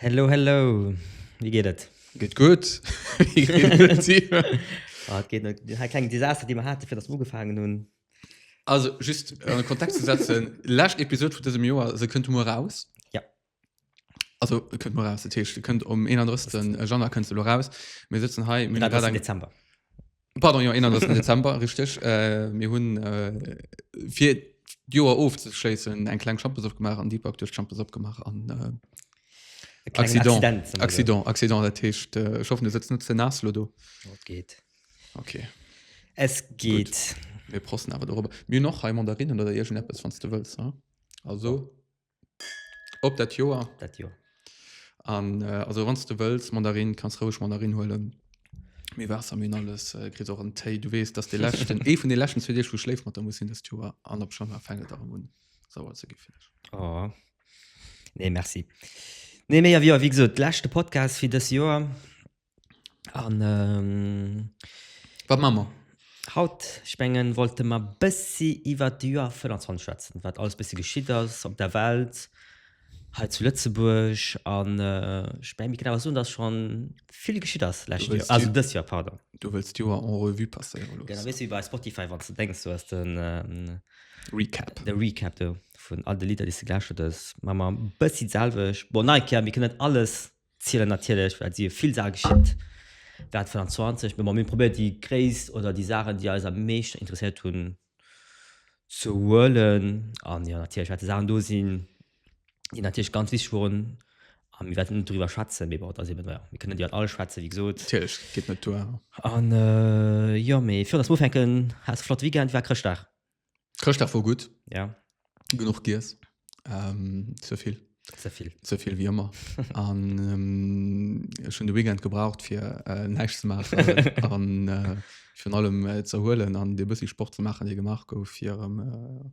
Hello, hello. Wéi geet et? Geet gutt. Wéi geet et dir? Oh, et geet net. Hei kleng Desaster, déi mer haten, fir datt mer ugefaangen hunn. Also, just, ëm e Kontext ze setzen, lescht Episod vun dësem Joer, se kënnt muer eraus. Ja. Also kënnt mor aus de Teeschte kënnt om 31 Januar kënnt se lo raus. Mir sitzen hei mir grad eng Dezember. Pardon jo 31 Dezember richteg. Äh, mir hunn äh, fir d'Joer ofzeschléissen eng kleng Champes opgemaach an Deepak duerch d'Champes opgemaach an äh, Accident Accident Accident dat heescht äh, ich hoffen du sitzt net ze nass lo do. Dat geet. Okay. Es geet. Mir prosten awer dorobber. Mir noch hei Mandarinnen oder irgendeppes wann du wëlls. Also. Op dat Joer dat Joer an äh, also wann du wëlls Mandarin kannst roueg Mandarin huelen mir Wasser mir alles äh, kritt och en Téi du wees dass de lächten ee vun de lächten zu Dir schläft mat der muss hin dat Joer an op schon war fängt darum hun sauer ze gi oh. nee merci nee méi wie wie gesagt lächte Podcast fir das Joer an ähm, wat man man haut spengen wollte man bëssi iwwer de Joer 25 schwätzen wat alles bëssi geschitt ass op der Welt hei zu Lëtzebuerg an äh, speng mir kënnen awer soen dass schon vill geschitt ass lescht Joer also dës Joer pardon du wëlls d'Joer en revue passéiere loosse wees wéi bei Spotify wann ze denks du ass den ähm, Recap de Recap do vun all de Lidder déi se gelauschtert ass man man bëssi d'selwech bon nei Kéier mir kënnen net alles Zielen natierlech, well et si jo vill Saache geschitt während 2020, mä mir hunn probéiert déi gréisst oder déi Saachen, déi eis am meeschten interesséiert hunn, ze huelen. An jo natierlech wäerte Saachen do sinn, déi natierlech ganz wichteg woren, a mir wäerten net doriwwer schwätzen, mee bon, et ass eben, jo, mir kënnen net iwwer alles schwätzen, wéi gesot. Natierlech, et geet net duer. An jo, mee virun datt mer ufänken, haas e flotte Weekend, wéi war Chrëschtdag? Chrëschtdag wor gutt. Ja. Genuch giess. Ähm, ze vill. Ze vill. Ze vill wéi ëmmer. An ähm, ech hunn de Weekend gebraucht fir äh, näischt ze maachen an äh, virun allem äh, ze erhuelen an dee bëssi Sport ze maachen, dee gemaach gouf, fir erëm äh,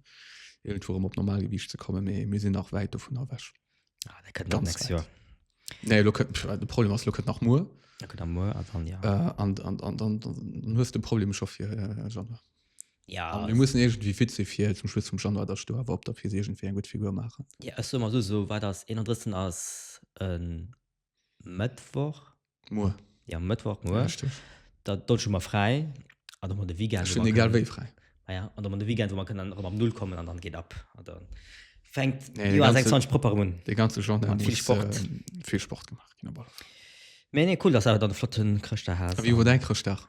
irgendwo erëm op Normalgewiicht ze kommen. Mee mir sinn nach wäit dovun ewech. Ah, dat kënnt dann Ganz nächstes weit. Joer. Nee, lo kënnt, pff, de Problem ass, lo kënnt nach muer. Dat kënnt am Moer an dann, ja. Äh, an, an, an, an, dann hues de Problem scho fir äh, Januar. Ja, mir mussen irgendwie fit si fir zum Schluss vum Januar der Stoer awer op der Fiiss iergendwéi eng gutt Figur maachen. Ja ech soe mer esou, esou wat ass 31 ass e Mëttwoch. Muer. Jo Mëttwoch muer. Richteg. Da do hu mer fräi an och mol de Weekend. Ech hunn egal wéi fräi. Ah ja, an och mol de Weekend wou mer kënnen erëm op Null kommen an dann geet ab. An da fänkt d'Joer 26 propper erëm un. Dee ganze Januar muss vill Sport, vill Sport gemaach ginn op alle Fall. Mee nee cool, dass awer dann e flotten Chrëschtdag hat. A wéi war däi Chrëschtdag?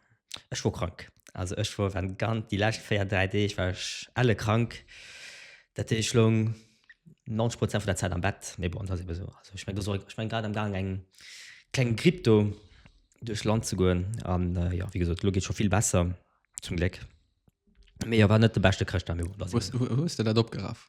Ech wor krank. Also ech wor wenn ganz déi lescht 4 3 Deeg war ech elle krank. Dat heesch ech loung 90 Prozent vun der Zäit am Bett. Mee bon dat ass ebe sou. Also ech meng do soll ech meng grad am gaang eng kleng Gripp do duerch Land ze goen an jo wéi gesot elo geet scho vill besser zum Gléck. Mee jo war net de beschte Chrëschtdag mee bon dat ass ebe sou. Wou hues de dat opgeraff?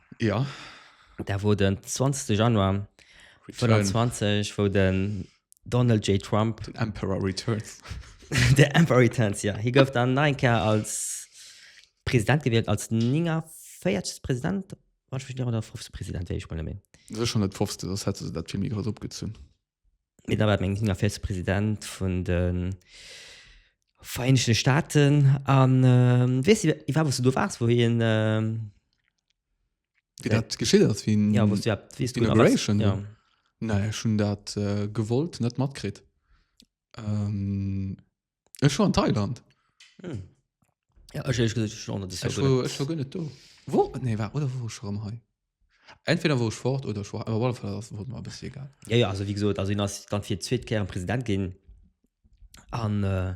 Ja. Da wor den 20. Januar 2020 wou den Donald J. Trump den Emperor Returns den Emperor Returns ja hie gouf dann nach eng Kéier als President gewielt als 49. President oder 50. President wéi ech mol net méi. Sech schonn net wosst, soss hätte se dat vill méi grouss opgezunn. Mee da war et mengen sinn a Vize President vun de Vereenegten Staaten an weess de iwwer wou s du do waars wou hien Wéi dat geschitt ass wéi ja wou s du ja wéi s du da waars Inauguration ja Nei ech hunn dat gewollt net matkritt Ech war an Thailand. Hm. Ja, ech ehrlich gesagt, ich war noch das Jahr Ech gut. war, ech war gar nicht do. Wo? Nee, war, oder wo ich schon hei? Entweder wo ich fort oder ich war, aber auf alle Fall das wurde mir ein bisschen egal. Ja, ja, also wie gesagt, also ihn ass dann fir d'zweet Kéier President ginn. An äh,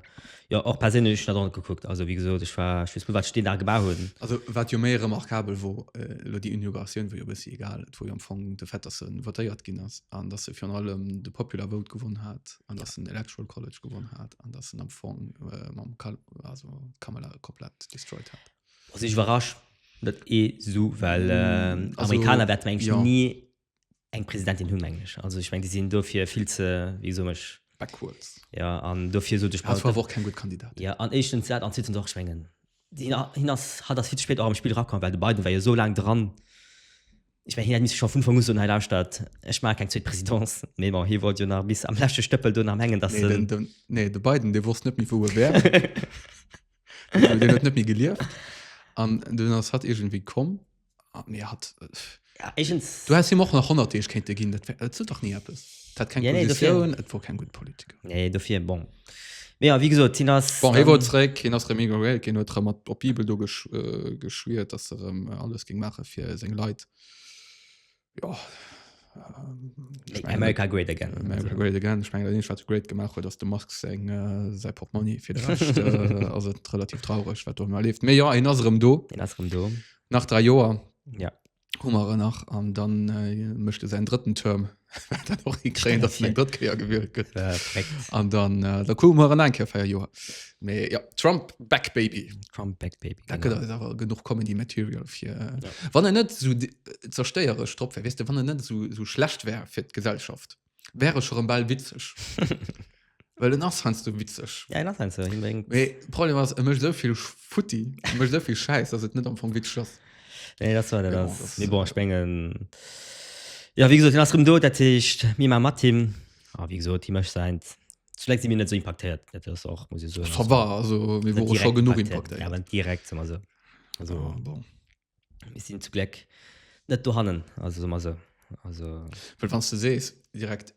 ja, och perséinlech ech net an gekuckt. Also wie gesot, ech war ech weess net, wat ech deen Dag gemaach hunn. Also wat jo méi remarkabel wor, äh, lo déi Inauguratioun wor jo e bëssi egal. Et wor jo am Fong de Fait, dass en votéiert ginn ass an dass e virun allem de Popular Vote gewonn hat. an dass den Electoral College gewonnen hat an dass den am Fong äh, mam Kal also Kamala komplett destroyed hat. Also ich überrascht net eh so, well äh, also, Amerikaner werden eigentlich ja. nie eng Präsidentin hun englisch. Also ich mein, die sind dofir viel ze wie so mech backwards. Ja an dofir so duch war auch kein gut Kandidat. Ja an echtens dat an zweitens och schwengen. Hin hat das viel spät am Spiel rakom, weil de beiden war ja so lang dran. Ech mengen, hien hätt misse schonn vun Ufank u soen, Hei lauschtert, ech maache keng zweet Présidence. Mee bon, hie wollt jo nach bis am leschte Stëppel do nach mengen, datt en. Nee, de Biden, dee wosst net méi, wou e wär. Well deen huet net méi gelieft. An dunn ass hatt iergendwéi komm. A mee hatt. Ja, éigens. Du häss him och nach 100 Deeg kéinte ginn. Dat wär, et sot dach ni eppes. Dat hat keng Positioun, et wor keng gutt Politiker. Nee, dofir, bon. Ja, wie gesagt, hin ass. Bon, ähm, war zréck, hin ass Remi Gorel, gin huet mat op Bibel do gesch, äh, geschwiert, dass er ähm, alles ging machen fir seng Leit. Ja. Ähm, ich mein, America Great Again. America Great Again. Ich meine, das Great gemacht hat, dass der Musk sein, äh, sein Portemonnaie für den Rest, äh, also relativ traurig, was da mal lebt. Aber ja, in unserem Do. In unserem Do. Nach drei Jahren. Ja. Hummer nach an dann äh, mechte se en drëtten Term dat och hiréen, dat eng drëtt Kéier gewielt gëtt an dann äh, da ku mar an enker feier Joer méi ja, Trump back baby Trump back baby da gëtt ass awer genug kommen die Material fir äh, ja. wann en net so äh, zerstéiere stroppp wis de wann en net so, so schlecht wär fir d'Gesellschaft. wäre schon ball witzig well den ass heinsdo witzig Ja, nach eins, hin wegen. Mee Problem ass e mécht souvill futti e mécht souvill Schäiss dass et net am Fong witzig ass. Nee, das war der Ja, das. das- Nee, bon, ich mengen. Ja, wie gesagt, den ass rem do, dat heescht, mir ma mat him. A wie gesagt, hi mécht säint. Zuletzt si mir net so impactéiert. Dat ass och, muss ich soen. Ça va, also mir Net wore scho direkt genuch impactéiert. impactéiert. Ja, aber direkt, sag mal so. Also, Ah, bon. Mir sinn zu Gléck net dohannen, also soe mer esou. Also. Well wann s de sees direkt,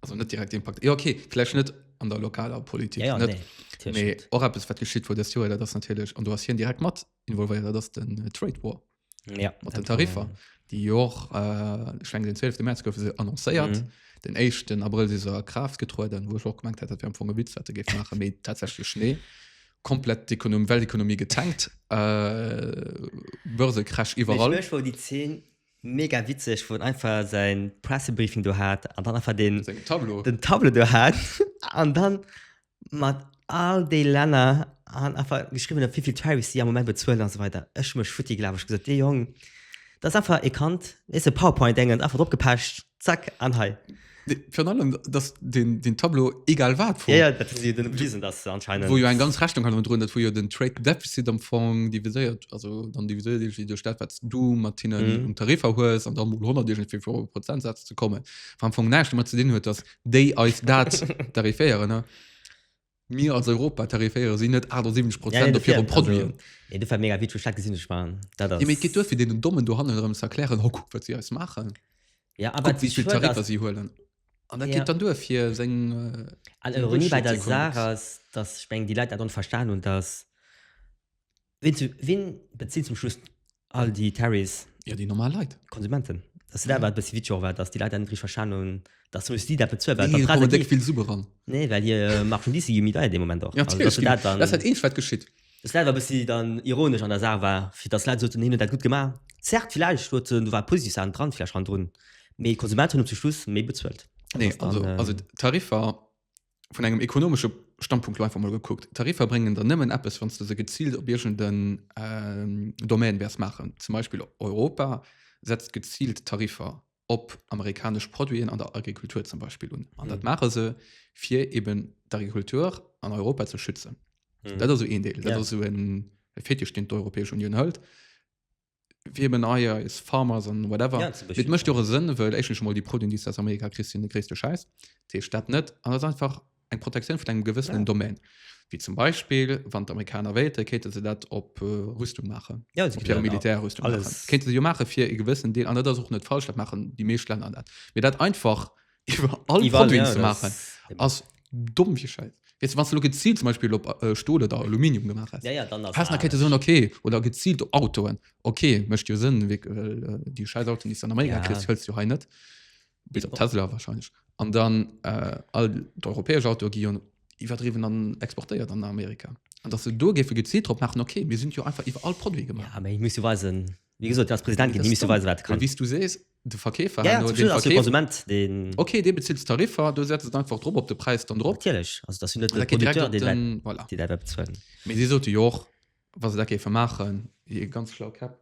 also net direkt Impakt, jo okay, vläicht net an der lokaler Politik, ja, ja, net, nee, natierlech mee net. och eppes wat geschitt wor dëst Joer, dat ass natierlech, an do ass hien direkt mat involvéiert, dat ass den Trade War Ja, mat den dat war, Tariffer, ähm, déi jo och, äh, ech mengen den 12. März goufe se annoncéiert, mhm. den éischten Abrëll si se a Kraaft getrueden, wou ech och gemengt hat, dat wär am Fong e Witz, wat e géif maachen, mee tatsächlech nee. komplett d'Ekonom Weltekonomie getankt äh, Börsekrasch iwwerall. Mech wor déi Zeen mega witzeg wou en einfach säin Pressebriefing do hat an dann einfach den Seng Tableau. den Tableau do hat an dann mat all déi Länner an einfach geschriwwen huet wéivill Tarifs si am Moment bezuelen an esou weider. Ech hu mech futti gelaf, ech gesot dee Jong dat ass einfach ee kannt weess de Powerpoint dengen einfach dropgepecht Zack, an hei. Virun allem, dass den, den Tableau egal wat vu. Ja, ja, dat hu si den Devisen, dass se anscheinend. Wou jo eng ganz Rechnung hanner drun, dat wou jo den Trade Deficit am Fong diviséiert, also dann diviséiert iergendwéi duerch dat, wat s du mat hinnen. Mhm. Um Tariffer hues an dann mol 100 iergendwéi fir op e Prozentsaz ze kommen, wat am Fong näischt domat ze dinn huet, dass déi eis dat tariféieren, ne? Mir als Europa tariféiere si net 78 Prozent op hire Produiten. Nee, dat war mega witzeg, dat gesinn ech mal. Dat ass... Jo, mee et geet duer, fir deenen Dommen dohannen erëm ze erklären, ho, kuck, wat si eis maachen. Ja, awer kuck, wéi vill Tariffer si huelen. An dat geet dann duer, fir seng Bullshit-Ekonomie ze. An Ironie bei der Saach ass, datt, ech mengen, déi Leit dat dann verstan hunn, datt Wien, zu, wien bezieht zum Schluss all die Tarrys? Ja, die normal Leute. Konsumenten. Das ist ja. aber ein bisschen wie war, dass die Leute endlich verstanden haben, dass du die dafür zu nee, dann die, viel super ran. Nee, weil hier äh, macht schon diese Gemüter in dem Moment auch. Ja, also, das, das, dann, das hat eh was geschieht. Das Leid war ein bisschen dann ironisch an der Sache war, für das Leid so zu nehmen, das gut gemacht. Zerrt vielleicht, du, du war positiv an dran, vielleicht an drin. Aber die Konsumenten haben zum Schluss mehr bezahlt. Nee, also, dann, äh, also Tarif war vun engem ekonomesche Standpunkt einfach mal geguckt Tarifer bringen dann nëmmen Apps wann du se gezielt op Bierschen den ähm, Domain wärs machen zum Beispiel Europa setzt gezielt Tarifer op amerikasch Produiten an der Agrikultur zum Beispiel un an mhm. dat mache se fir eben d'Agrikultur an Europa ze schützen mhm. dat so een Deel ja. so en Fetisch den d'Europäesch Union hëlt fir eben Eier is Farmers an whatever. Ja, zum Beispiel. Et mëscht jo och Sënn, wëll éischtens emol déi Produiten, déi s du aus Amerika kriss, sinn de gréisste Schäiss. Dat heescht dat net. An dat ass einfach eng Protektioun vun engem gewëssenen Ja. Domaine. Wéi zum Beispill, wann d'Amerikaner wéilten, kéinte se dat op äh, Rüstung maachen. Ja, sie Op hire können Militärrüstung alles- maachen. Kéinte se jo maache fir e gewëssen Deel. An dat ass och net falsch, dat maachen déi meescht Länner dat. Mee dat einfach iwwer all Iwwerall, Produit ja, ze das- maachen, ass domm wie Scheiß. Weißt du, wann du geziilt zum Beispiel op äh, Stol oder Aluminium gemaach hast, Ja, ja, dann ass hast nach anescht. so okay oder geziilt op Autoen okay mecht jo Sënn wéck, well äh, déi scheiß Autoen déi s du an Amerika Ja. kriss hëls du hei net bis op Tesla wahrscheinlech an dann äh, all d'europäesch Autoe gi jo iwwerdriwwen an exportéiert an Amerika an dass se do géife geziilt drop maachen okay mir sinn jo einfach iwwer all Produit gemaach Ja, aber ich muss du weisen, wie gesagt, als Präsident, Das die ist müssen dumm. weisen, was du Well kannst. wéi s du sees De Verkeefer ja, herno, den Verkeefer, Konsument, den okay, dee bezilt Tariffer, du setzt et einfach drop op de Präis dann drop. Natierlech, also dat sinn net de Producteur, deen dat, voilà. deen dat bezuelen. Mee si sote jo och, wa se dat géife maachen, hir ganz schlau Käpp,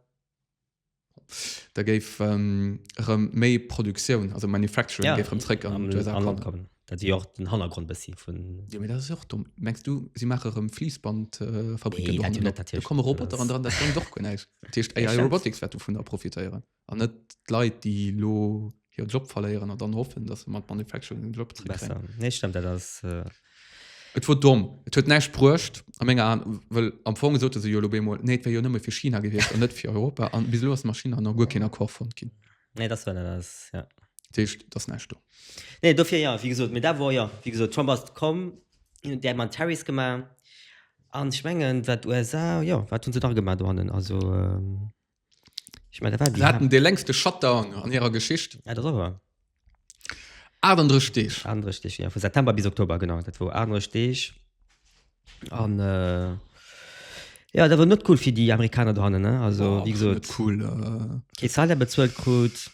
da géif ähm, erëm méi Produktioun, also Manufacturing, ja, géif erëm zréck an d'USA kommen. Dat si jo och den Hannergrond bëssi vun. Jo, mee dat ass jo och domm. Mengs du, si maache erëm Fliissbandfabricken? Äh, nee, dat jo net, natierlech. Da komme Roboter an dran, dat bréngt och guer näischt. Dat heescht, AI Robotics wäert dovunner profitéieren. An net d'Leit, déi elo hiren Job verléieren an dann hoffen, dass se mat Manufacturing den Job zréckkréien. Besser. Nee, stëmmt, dat ass. Et wor domm. Et huet näischt bruecht a menger An, well am Fong sote se jo elo bemol, nee, et wär jo nëmme fir China gewiescht an net fir Europa. An bis elo ass mat China nach guer keen Accord fonnt ginn. Nee, dass wor, dat ass, ja. Dat heescht, et ass näischt do. Nee, dofir, jo, wéi gesot, mee dat wor, jo, wéi gesot, Trump ass komm, hien huet däi mat Tariffs gemaach an ech mengen, wat USA, jo, wat hunn se nach gemaach dohannen? Also, Ich mein, da war die Sie hatten de längste Shutdown an hirer Geschicht. Ja, das aber. 38 Deeg. Andere Stich, ja. Von September bis Oktober, genau. Das war andere Stich. Und, äh, ja, das war nicht cool für die Amerikaner dran, ne? Also, Boah, wie gesagt. Nicht cool. Äh. Keine Zahl, der bezahlt kriegt.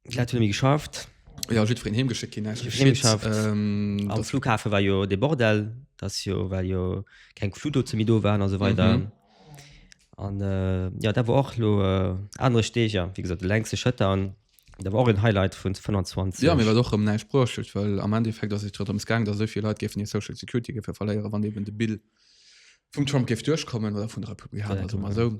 Leit hunn emi geschafft. Ja jiddwereen heem geschéckt ginn eigentlech. Heem geschafft. Ähm, Am Flughafe war jo de Bordell, dat ass jo well jo keng Fluglootse méi do waren a sou weider. An äh, ja dat war och lo äh, anere Steg, ja wéi gesot de Lengste Schëtter an dat war och en Highlight vun 25. Ja, mir war et och erëm näischt bruecht huet, well am Endeffekt ass et jo drëms gaang, datt esou vill Leit géifen hir Social Security géife verléieren, wann eben de Bill vum Trump géif duerchkommen, oder vun de Republikaner, soe mer esou.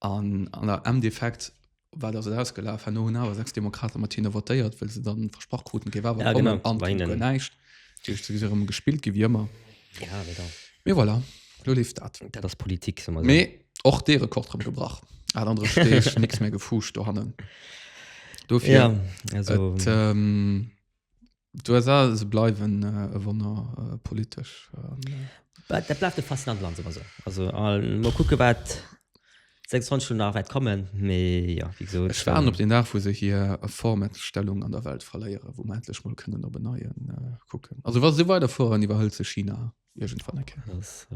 An an der Emdefekt war dat ausgelaf no hun awer sechs Demokrate mat hinne votéiert, well se dann versprach kruten kee Wawer kommen an Weinen näischt rëm gespillt gi wie ëmmer. Ja wéi dann. Mee voilà, lo leeft dat. Dat ass Politik soe mer esou. Mee och dee Rekord rëm gebrach. Al anere Steeg, nicks méi gefuuscht dohannen. Dofir et. D'USA se bleiwen e Wonner politesch. Dat bleift e faszinant Land, soe mer esou. Also mol kucke wat 26 Stonne nach wäert kommen. Mee jo, wéi gesot. Ech waarden op deen Dag, wou se hir Vormächtstellung an der Welt verléieren, wou mer endlech mol kënnen op en Neie kucken. Also wa se esou weiderfueren, iwwerhëlt se China iergendwann eng Kéier. Dat ass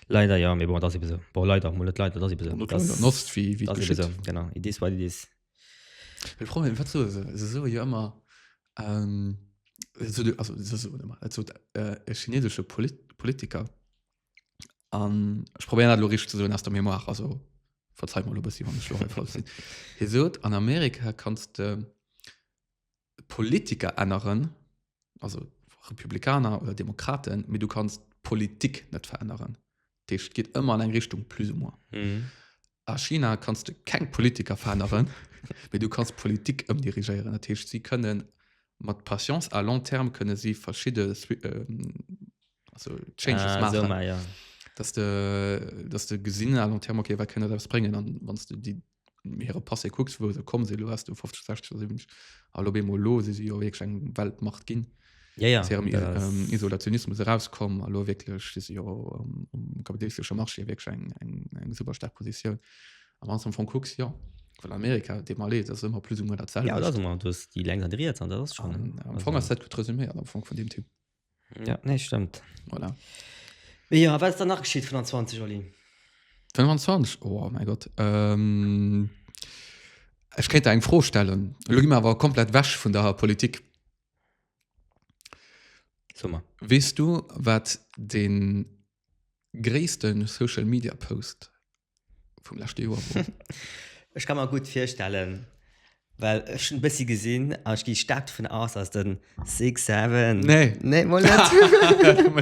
leider, jo. Mee bon, et ass ebe sou. Bon, leider, mol net leider, et ass ebe sou. An Nost, wéi et geschitt. Genau, it is what it is. Ech froe mech, wat soe se? Se soe jo ëmmer, also se soen ëmmer, dat sot e chineesesche Politiker, an ech probéieren dat elo richteg ze soen aus der Mémoire, also verzeit mer elo e bëssi, wann ech elo hei falsch sinn. Hie sot, an Amerika kanns de Politiker änneren, also Republikaner oder Demokraten, mit du kannst Politik net verännern. Dich geht immer an eng Richtung plus ou moins. Mhm. A China kannst du keng Politiker verännern, mit du kannst Politik ëmdirigieren. Dat heißt, sie können mat Patience à long terme können sie verschiedene Swi- ähm, also Changes Ah, machen. so mal, ja. dass de dass de gesinn a long terme okay wat kënne daraus bréngen an wanns du déi hire Passé kucks, wou se komm sinn, elo wars du 50, 60 oder 70, allo bemol elo si se jo wierklech eng Weltmacht ginn. Ja, ja, aus hirem ähm, Isolationismus erauskomm a lo wierklech si se jo um, um kapitalistesche Marché wierklech eng, eng, eng super stark Positioun. Am Anfang vu kucks ja well Amerika de mal dat ëmmer plus um dat ja, selwecht. du hast die lenks an die rechts an das ist schon. Am Fong ass dat gut resuméiert am Fong vun dem Typ. Ja, nee, stimmt. Voilà. Ja, was ist danach geschieht, 25, Olli? 25? Oh mein Gott. Ähm, ich könnte eine Frage stellen. Schau mir aber komplett weg von der Politik. Sommer. Weißt du, was den größten Social Media Post vum leschte Joer wor. Ech ka mer gutt virstellen, well ech hunn e bëssi gesinn an ech gi staark dovun aus, dass de Six Seven. Nee. Nee, mol net.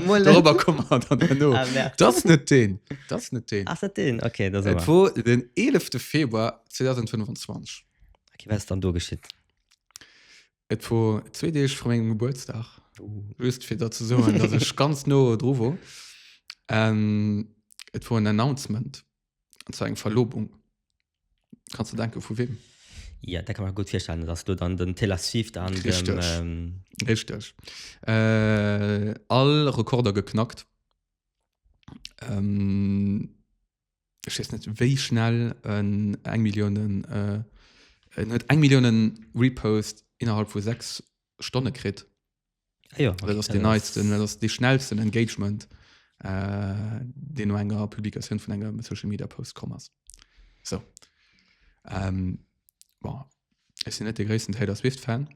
Mol net. Dorobber komme mer dann herno. Ah, merde. Dat ass net deen. Dat ass net deen. Ass dat deen? Okay, da si Et mer. wor den 11. Februar 2025. Okay, wat ass dann do geschitt? Et wor zwee Deeg vru mengem Gebuertsdag. Just fir dat ze soen, datt ech ganz no dru wor. An et wor en Announcement, an zwar eng Verlobung. Kanns de denke vu weem? Ja, dat ka mer gutt virstellen, datt ass do dann den Taylor Swift an dem. Richteg. Richteg. All Rekorder geknackt. ech wees net wéi schnell en eng Milliounen äh, en huet eng Milliounen Repost innerhalb vu sechs Stonne kritt Ah ja, dat ass den neisten dat ass de schnellsten Engagement äh, deen no enger Publikatioun vun engem Social Media Post komm ass so ähm, Bon. Ech sinn net de gréissten Taylor Swift-Fan.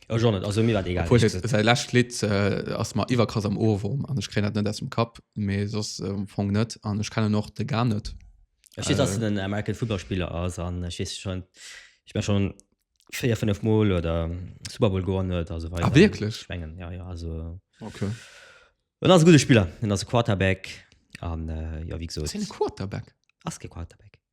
Ech och net, also mir war egal. Obwohl, ich, sein letztes Lied äh, ass mal iwwerkrass am Ohrwurm an ich kenne das nicht aus dem Kopf, aber sonst ähm, fang net an ich kenne noch de gar net. Ich weiß, dass äh, den American Fußballspieler ass an ich weiß schon ich bin schon vier fünf Mal oder Super Bowl gewonnen huet also weiter. Ah, wirklich? Schwengen. Ja, ja, also Okay. Und ass e gute Spieler, en ass e Quarterback an äh, ja wie gesagt. Ist ein Quarterback? Ass ke Quarterback.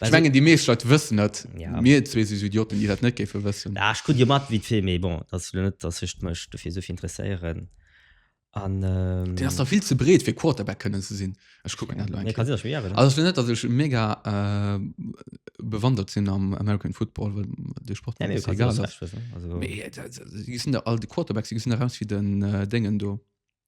Ech Also- mengen déi meescht Leit wëssen et. Ja. Mir zwee si sou Idioten, déi dat net géife wëssen. Ah, ech krut jo mat wéi d'Film, mee bon, dat ass lo net, datt ech mech dofir esou vill interesséieren. An ähm, Deen ass da vill ze breet fir Quarterback kënnen ze sinn. Ech kuck mir dat lo eng nee, Kéier. kann sech wieren. Also net, datt ech mega äh, bewandert sinn am American Football, well de Sport Nee, mir nee, du egal kannst alles ass. recht wissen. Also, Mee, äh, da- da- si gesinn da all de Quarterbacks, si gesinn eraus wéi den äh, Déngen do.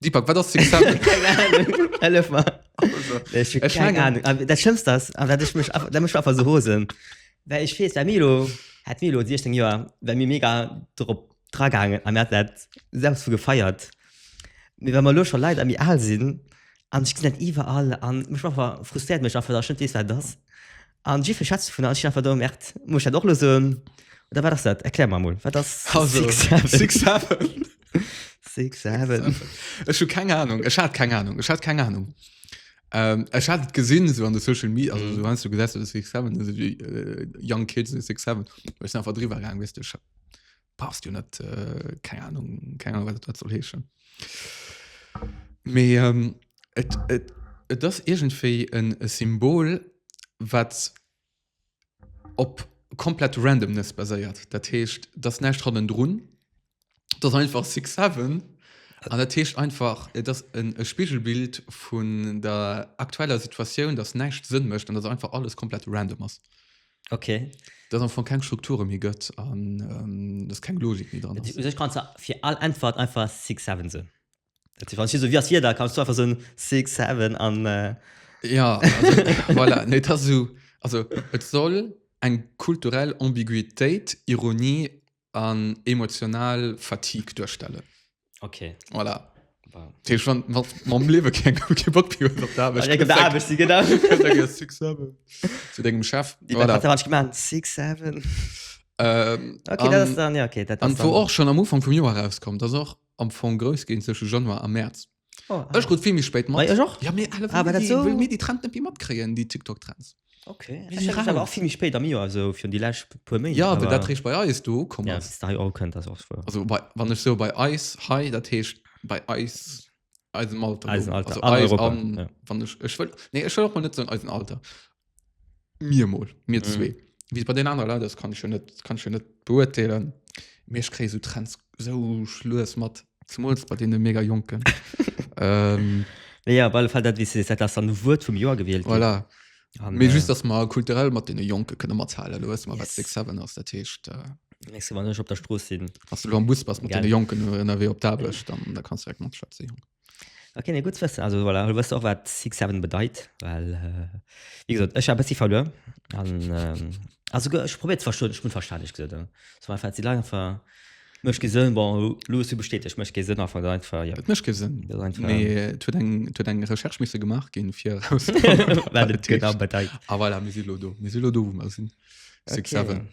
Deepak, wat ass successful? Keng Ahnung. Hellef mer. Ech hun Ech keng mengen- Ahnung. An dat Schlëmmst ass, an dat ech mech einfach, dat mech einfach sou rosen, well ech weess, well mir elo, hätt mir elo 16 Joer, wär mir mega drop dra gaangen a mir hätten dat selbst vu gefeiert. Mee well mer elo scho Leit a méi al sinn an ech gesinn dat iwwerall an mech einfach, frustréiert mech einfach, datt ech net weess, wat et ass. An jiff ech schätz vun einfach do merkt muss dat och lo so oder wat ass dat erklär mer mol wat ass Ech hu keng Ahnung Ech hat keng Ahnung Ech hat keng Ahnung ähm, Ech hat gesinn so an de Social Media also, mhm. du gesetzt Young Kids verdriwer wis passt jo net äh, keine Ahnung keine Ahnung wat dat soll heeschen me ähm, et, et, et das irgendwie en Symbol wat op komplett randomness baséiert dat heescht das nächt hannen drun das einfach six seven an dat heescht einfach et das en e Spiegelbild vun der aktueller Situation das nächt sinn mecht an das einfach alles komplett random ass okay dat am Fong keng Strukture méi gëtt an ähm, dass keng Logik méi dran ass. Sech kannst du fir all Äntwert einfach six seven soen. Dat si wann si so wie ass hier da kannst du einfach soen six seven an äh, Ja, also, voilà, nee, das so, also et soll eng kulturell Ambiguitéit, Ironie an emotional Fatigue duerstellen. Okay. Voilà. Wow. Tee schon wat mam lewe keng ke Bock pi op der Arbeit. Eng Arbeit si genau. Zu degem Chef. Di wat hat gemeint 67. Ähm, okay, dat ass dann ja okay, dat ass. An wo och schon am Ufang vum Joer rauskommt, dat ass och am Fong grous ginn zwësche Januar a März. Oh, Ech krut vill méi spéit mat. Mei, ech och. Ja, mee alle Ah, aber dat so- wëll mir déi Trend net méi matkréien, déi TikTok-Trends. Okay. Mir Ech si hat dat awer raus. och vill méi spéit am Joer, esou virun déi lescht puer Méint. Ja, well dat réischt bei eis do ukomm Ja, ass. bis dahi och kënnt, dat ass wuer. Also bei, wann ech sou bei eis hei, dat heescht bei eis, eisem Alter. Eisen Alter, Also an eis Europa, an, ja. wann ech, ech wëll, nee, ech wëll och mol net soen eisen Alter. Mir mol, mir mhm. zwee. Wie bei den anderen Leute ist, kann ich schon nicht, kann ich schon nicht beurteilen. Mir ich kriege so Trends so schluss mit, zumal bei denen mega Jungen. ähm, ja, weil Fall dat wie se dat ass dann Wuert vum Joer gewielt. Voilà. An, äh, just dass man kulturell mat den Jonke kënne mat halen lo yes. wat 6 ass der Techt. Äh, Nächste Mal nicht op der Stroß sinn. Ass du am Bus was mat den Jonken ënnerwee op Dablech, dann da kannst du direkt mat Schwätze Jonken. Okay, nee, gut wëssen. Also voilà, du wësst och wat Six Seven bedeit, well äh, wie gesot ech war bëssi verluer an ähm, also go- ech probiert verstoen ech bin verständlich gesot ja. so einfach sie lang ver mech gesinn bon Louis du bestätigt mech gesinn einfach da einfach ja Et mécht kee Sënn. Das ist einfach- Mee et huet eng et huet eng Recherche misse gemaach ginn, fir erauszefannen, wat wat et et genau heescht. bedeit A voilà, mir si lo do. Mir si lo do, wou mer sinn. Six Okay. Seven.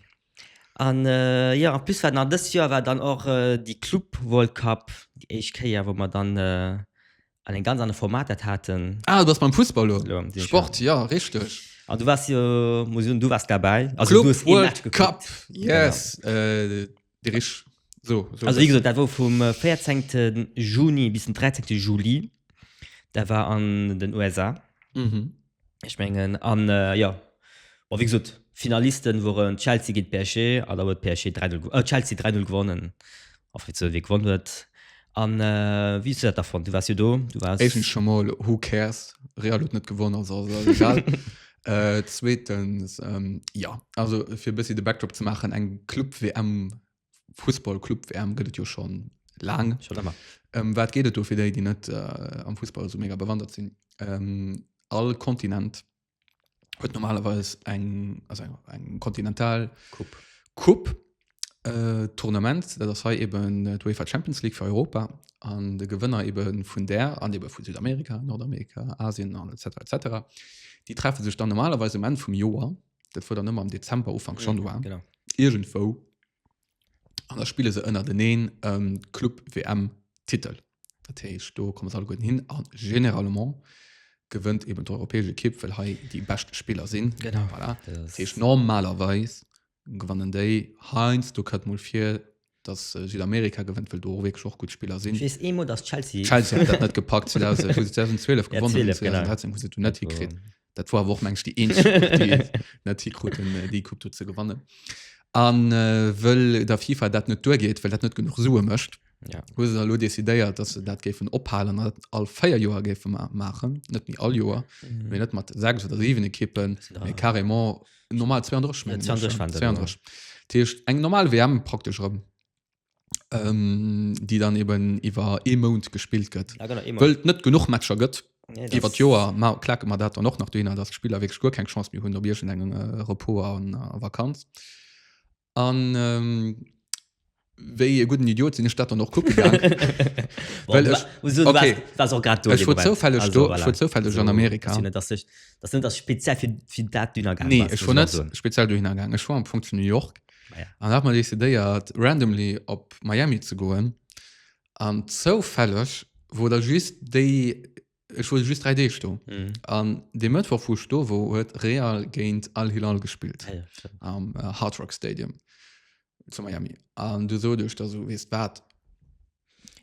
An jo en plus war nach dëst Joer war dann och déi Club World Cup, déi éischt Kéier wou mer dann an en ganz anere Format dat haten. Ah du bass beim Fussball lo, Sport jo richteg. An du waars jo muss ech soen du waars derbäi, also du hues ee Match gekuckt. Club World Cup yes déi richteg so esou. Also wéi gesot dat wor vum 14 Juni bis den 13 Juli, dat war an den USA. Ech mengen an jo bon wéi gesot Finalisten woren Chelsea géint PSG an da huet PSG 3 0 äh Chelsea 3 0 gewonnen a fir ze wie gewonn huet an wéi hues du dat da fonnt? Du waars jo do du waars. Éischtens scho mol who cares Real huet net gewonnen also ass et eis egal zweetens jo also fir e bëssi de Backdrop ze maachen eng Club WM Fussball-Club-WM gëtt et jo schon laang. Schon ëmmer. Ähm, wat geht et do fir déi, déi net äh, am Fußball so mega bewandert sinn? Ähm, all Kontinent huet normalerweise eng also eng, eng kontinental Kupp. Kupp äh, Tournament, dat ass hei eben äh, d'UEFA Champions League für Europa an de Gewënner eben vun der an eben vun Südamerika, Nordamerika, Asien an etc etc. Die treffen sich dann normalerweise am Ende vum Joer dat war dann ëmmer am Dezember Ufank mhm, Januar genau. irgendwo an der spiele se ënner den een ähm, Club WM Titel dat heißt, do kommen alle guten hin an generalement gewënnt eben europäische Kipp weil hei die beste Spieler sind genau voilà. das heißt, normalerweise gewannen déi heinz du kat mul fir dass Südamerika gewënnt, well do och wierklech och gutt Spiller sinn. Just ee Mot, dass Chelsea. Chelsea hat dat net gepackt 2000, wo se 2012 Ja, gewonnen 12, genau. 2013 hu se du net Wo- hikritt. Dat war awer och mensch déi eenzeg Coupe, déi et net hikruten äh, déi Coupe do ze gewannen. An äh, wëll der FIFA dat net duergeet, well dat net genuch Sue mécht, Ja. hu se elo decidéiert, dass se dat géifen ophalen an dat all 4 Joer géife ma maachen, net méi all Joer, mee net mat 6 oder 7 Ekippen, Sind da- mee carrément normal 32 mengen ech, 32 ja. waren se, 32 Dat heescht, eng normal WM praktesch erëm ähm, déi dann eben iwwer ee Mount gespillt gëtt Ja, genau, immer. wëll et net genuch Matcher gëtt Nee, das- iwwer d'Joer ma klake mer dat dann och nach dohinner datt d'Spiller wierklech guer keng Chance méi hunn op iergendengem äh, Repos an a Vakanz an wéi e gudden Idiot sinn ech dat dann och kucke gaang, well ech, okay, ech wor zoufälleg do, ech wor zoufälleg an Amerika. Nee, ech wor net speziell dohinner gaang, ech wor am Fong zu New York an hat mer decidéiert randomly op Miami ze goen an zoufälleg wor da just déi Ech wor just 3 Deeg do. Mhm. An de Mëttwoch vu Sto wo huet Real géint Al Hilal gespillt Ah ja, stimmt. am äh, Hard Rock Stadium zu Miami. An du so duch da so wees wat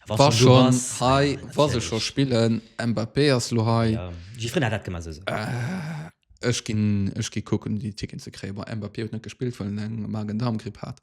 Was war du schon was? hei Ja, was se schon natürlich. spillen Mbappé ass lo hei Ja. Gifrin hat dat gemacht. So. Äh, ech ginn ech gi kucken déi Ticken ze kréien. Bon, Mbappé huet net gespillt, well en eng Magen-Darm-Gripp hat.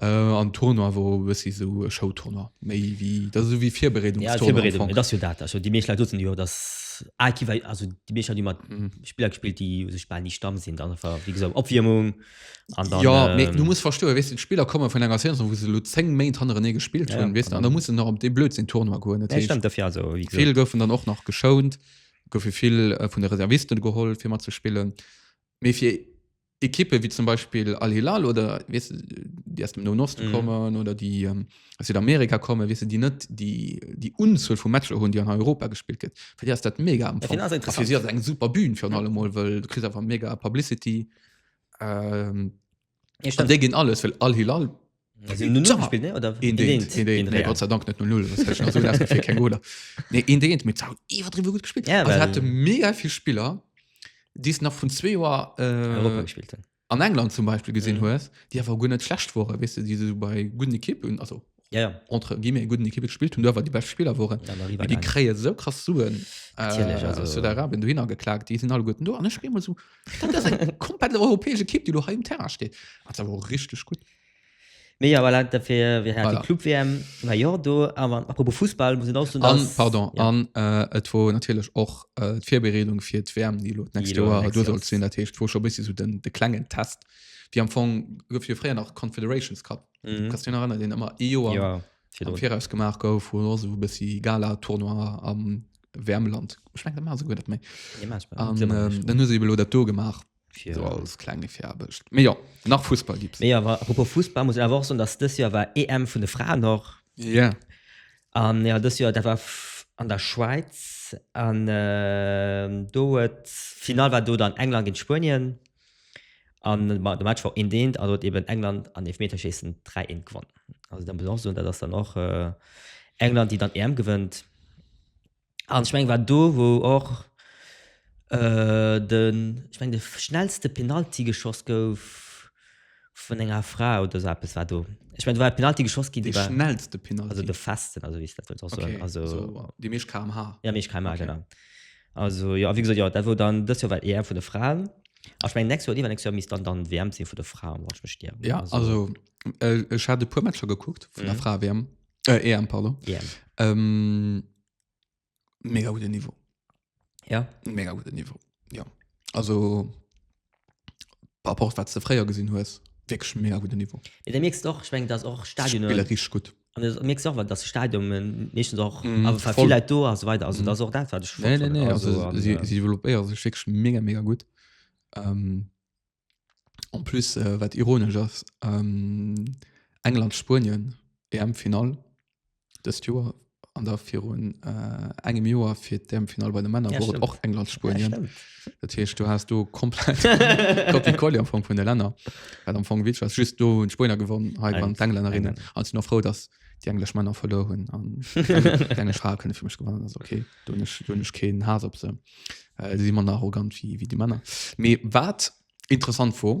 Äh, an Tournoi wor e bessi sou e Showtournoi, méi wéi, dat ass sou wéi Virbereedungs Ja, Tournoi am Virbereedung, Fong. et ass jo dat. Also déi meescht Leit sotzen jo, dass Aekiwei, also déi meescht Leit hunn ëmmer Mhm. Spiller gespillt, déi u sech bal ni Stamm sinn. Dann einfach, wéi gesot, Opwiermung an dann. Ja, mee du ähm, muss verstoen, weess de, d'Spiller komme vun enger Saison, wou se elo 10 Méint hannerenee gespillt Ja, hunn, weess de, an da muss en nach op dee blödsinn Tournoi goen. Dat Nee, heescht, stemmt, dofir also, wéi gesot. vill goufen dann och nach geschount, goufe vill äh, vun de Reservisten geholl, fir mat ze spillen. Mee fir Ekippe wéi zum Beispill Al Hilal oder weißt du, déi aus dem Noen Osten mhm. kommen oder déi ähm, aus Südamerika kommen, weißt du, déi net déi, déi Unzuel vu Matcher hunn, déi an Europa gespielt gëtt. Fir Dir ass dat mega am Fong. Fir si ass eng super Bühn fir an allem Mol, well du kriss einfach mega Publicity. Ähm, dé ginn alles, well Al Hilal Een degent mit iwwerdriwe gut gespillt. Ja, well... hat mega vill Spiller, déi nach vun zwee Joer äh, gespielt hun. An England zum Beispiel gesinn hues, mhm. Dir war gun net schlecht wore wis weißt du, diese bei guten Ekippen also ja, ja. entre gi mir guten Ekippe gespielt hun duwer die best Spieler woren ja, die kree so krass suen äh, Arabien du hinner geklagt, die sind alle guten do an ech spe so. Dat ass eng komplett europäesch Ekipp, déi lo hei um Terrain steet. Dat ass awer richteg gutt. Mee ja, voilà, dafir, wir haten Voilà. Club-WM, war jo do, awer apropos Fussball, muss een auch so An, pardon, ja. an äh, et wor natierlech och äh, d'Virbereedung fir d'WM, déi lo d'nächst lo Joer nächst do Joer sollt ass. sinn. Dat heescht, wor scho bëssi so den, de klengen Test. Wéi am Fong gouf jo fréier nach Confederations Cup. Mhm. Kannst du den erinnern, deen ëmmer ee Joer Ja, am Viraus gemaach gouf, wou lo sou e bëssi Gala-Tournoi am Wärmeland, ech mengen, dat maache se guer net méi. Nee, mach mal. An Glimmer ähm, nicht. dann hu se ebe lo dat do gemaach, Fir- sou als klenge Firaarbecht. Mee jo, nach Fussball gibt's. Nee, awer apropos Fussball muss een awer och soen, dass dës Joer war EM vun de Fraen och. Ja. An jo, dës Joer dat war f- an der Schwäiz an ähm, do huet d'Finall war do dann England géint Spuenien. An de Match war och eendeent an do huet eben England an Eelfmeterschéissen 3, 1 gewonn. Also da muss een och soen, dat ass dann och England, déi dann EM gewënnt. An ech mengen, war do, wou och den, ech mengen, de schnellste Penalty geschoss gouf vun enger Fra oder esou eppes war do. Ech mengen, do war e Penalty geschoss ginn, dee war. De schnellste Penalty? Also de festen, also wéi ech dat wëllt och soen. Okay, also déi meescht kmh. Ja, déi meescht kmh, genau. Okay. Also jo, a wéi gesot, jo, dat wor dann dëst Joer war d'EM vun de Fraen. A ech mengen, nächst Joer oder iwwernächst Joer misst dann dann d'WM sinn vun de Fraen, wann ech mech nicht ieren. Ja, also äh, ech hat e puer Matcher gekuckt vun der Mhm. Fra WM äh, EM pardon. EM. Ähm, mega guten Niveau. Ja. Mega guten Niveau. Ja. Also par rapport wat ze fréier gesinn hues wirklich mega guten Niveau Ja, da merkst du auch, ich meine, dass auch Stadionen, Spiller richtig gut an du merkst auch, dass Stadionen meistens auch, Mhm, aber voll. viel Leute do und so weiter. Also, Mhm. das ist auch das, was ich nee, nee, nee, also, also, an, sie, äh, sie développéiere sech wirklich mega mega gut ähm, en plus äh, wat ironisch ass ähm, England Spuenien EM Final Dëst Joer an da virun äh, engem Joer fir d'EM-Final bei de Männer Ja, wor et stimmt. och England Ja, Spuenien. stimmt. Dat heescht du hast du komplett Copy Colli am Fong vun der Länner Well am Fong Witsch ass just do hunn d'Spuenier gewonnen hei Nein, waren d'Englännerinnen Engländer. an sinn och frou datt déi englesch Männer verluer hunn an déi englesch Frae kënne fir mech gewannen ass okay do hunn ech do hunn ech keen Haass op se äh, si si manner arrogant wéi wéi déi Männer mee wat interessant wor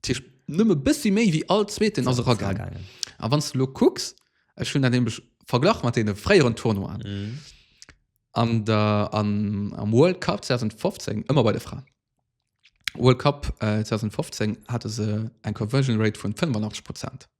Dat heescht, nëmme e bëssi méi wéi all Zweeten ass eragaangen. A wann s de elo kucks, ech hunn dat nämlech verglach mat deene fréieren Tournoien, an der, an, am World Cup 2015, ëmmer bei de Fraen, World Cup 2015 hate se eng Conversion Rate vun 85 Prozent.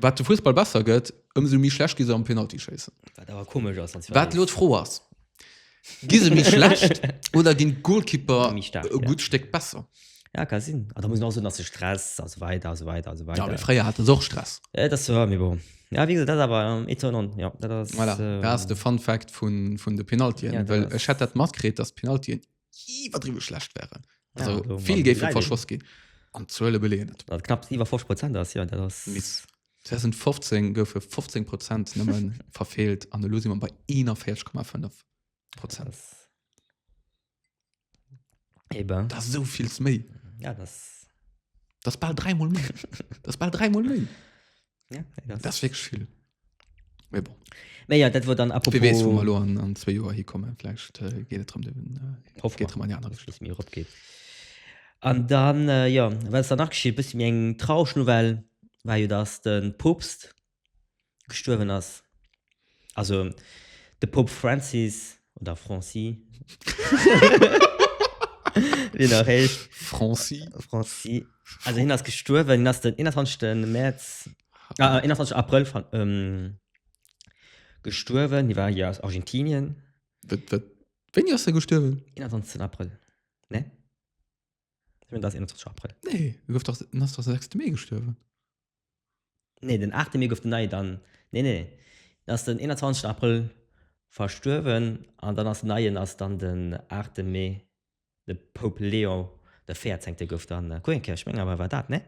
Wat de Fussball besser gëtt, ëmsou méi schlecht gi se am Penaltyschéissen. Wat awer komesch ass, wann zwar. Wat elo d'Fro ass, gi se méi schlecht oder ginn d'Golkipper e gutt Stéck besser? Ja, ka sinn. A da muss een och soen, dass de Stress a sou weider a sou weider a sou weider. Ja, mee fréier hate se och Stress. Et ass wouer, mee bon. Ja, wéi gesot, dat ass awer étonnant. Jo, dat ass. Voilà, dat ass de Fun Fact vun de Penaltyen, well ech hätt dat matkritt, dass d'Penaltyen iwwerdriwe schlecht wären. Also ja, also, vill géif verschoss ginn an Zuele beleen net. Dat knapps iwwer 5 Prozent ass ja, dat ass miss. 2015 goufe 15 Prozent nëmmen verfeelt an de Losi man bei 41,5 Prozent. Eben. Da so viells méi. Ja, das, das ball dreimal méi. das ball dreimal méi. Ja, das, das wirklich viel. Mais bon. Mais ja, dat war dann apropos... Wie wees, wou mer lo an, an zwee Joer hikommen. Vläicht äh, geet et rëm den, äh, Hoffen geet rëm an déi aner Richtung. Mir opgeet. An dann, äh, ja, wat ass dann nach geschitt? Bëssi méi eng traureg Nouvelle war jo, dass den Poopst gestuerwen ass. Also, de Poop Francis, oder Franci, wéi en och heescht. Franci. Franci. Also, hien ass gestuerwen. Hien ass den 21. Mäerz 21 April ver, ähm, gestuerwen. Déi war hier aus Argentinien. Wat, wat, wéini ass der gestuerwen? 21 April. Ne? Ich mein, das ist 21 April. Nee, du gouf doch, ass doch 6. Mee gestuerwen. Nee, den 8. Mee gouf den Neie dann. Nee, nee. Den ass den 21. April verstuerwen an dann ass den Neien ass dann den 8. Mee. De Pope Leon de Véierzéngte gouf dann Queenkirch, meng awer e war dat, nee?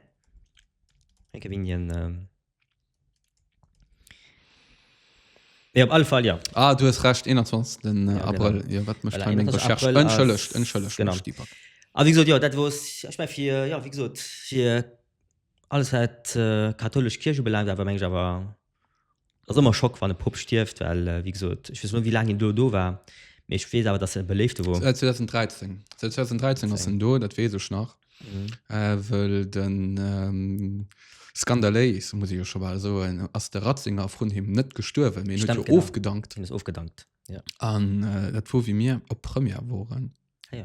Meng e wien hien. Mee op alle Fall jo. Ah, du hues Recht, 21. Ja, genau. Abrëll. Jo, wat mécht Voilà, hei meng 21. Recherche? Abrëll ass- Entschëllegt, entschëllegt, Genau. mech, Dieper. A wéi gesot, jo, dat wor, ech meng fir, jo, wéi gesot, fir alles wat äh, kathoulesch Kierch ubelaangt, awer meng ech awer Ass ëmmer Schock wann e Pupp stierft, well wéi gesot, ech weess net wéi laang hien do do war, mee ech weess awer dass en e beléifte wor. Säit 2013, säit 2013 ass en do, dat weess ech nach, wëll de skandaléis, muss ech jo scho bal soen, ass de Ratzinger vrun him net gestuerwen, mee en huet jo ofgedankt. Hien ass ofgedankt, jo. An dat wor wéi mir op Première woren, du.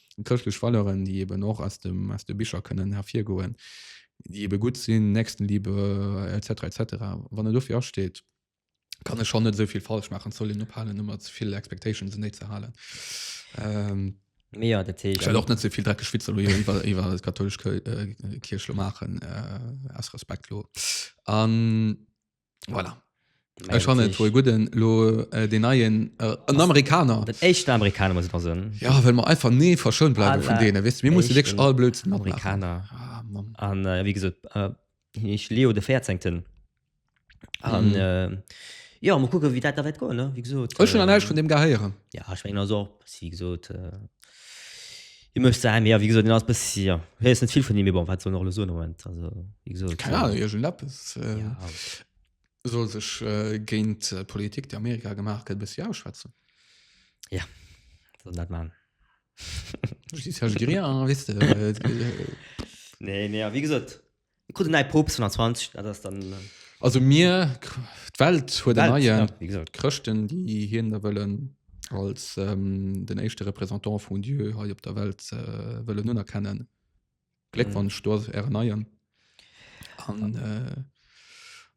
Chrëschtlech Valeuren, déi eben och aus de Bicher kënnen ervirgoen, déi ebe gutt sinn, Nächstenliebe etc. Etc. Wann en dofir asteet, kann e schonn net esou vill falsch maachen. Et soll een ophalen, ëmmer ze vill Expectations en Déi ze halen. Mee jo, dat heescht. Ech well och net ze vill dreckeg Witzer elo iwwer iwwer d'katholesch Kierch elo maachen, aus Respekt elo. Voilà. Ech fan et woe gudden lo äh, den neien äh, en Amerikaner. Den echten Amerikaner muss man sagen. Ja, well mer einfach nee verschoun bleiwe vun Aller deene wis. Mir musse wirklich echten all Blödsinn matmachen. Amerikaner. Ah, Mann. An äh, wie gesot äh, ich Leo de 14. An Mhm. äh, ja mal gucken wie dat da wett go ne wie gesot Ech schon an eich vun dem gehéieren. Ja ich mein also wie gesot äh, Hie mécht Saachen, mee jo, wéi gesot, hien ass e bëssi, jo, hie huet net vill vun him, mee bon, wat soll en och elo soen am Moment? Also, wéi gesot. Keng Ahnung, iergendeppes ja. soll sech géint d'Politik, déi Amerika gemaach gëtt, e bëssi ausschwätzen. Soll en dat maachen. Justice, Herrgerier, wéisst de. Nee, mee jo, wéi gesot. Dir krut en neie Poopst vun der 20, dat ass dann. Also mir, d'Welt huet en neien. D'Welt, ja, wéi gesot. D'Chrëschten, déi hien da wëllen als den éischte Représentant vun Dieu hei op der Welt wëllen unerkennen. Gléckwonsch, do ass ären neien. An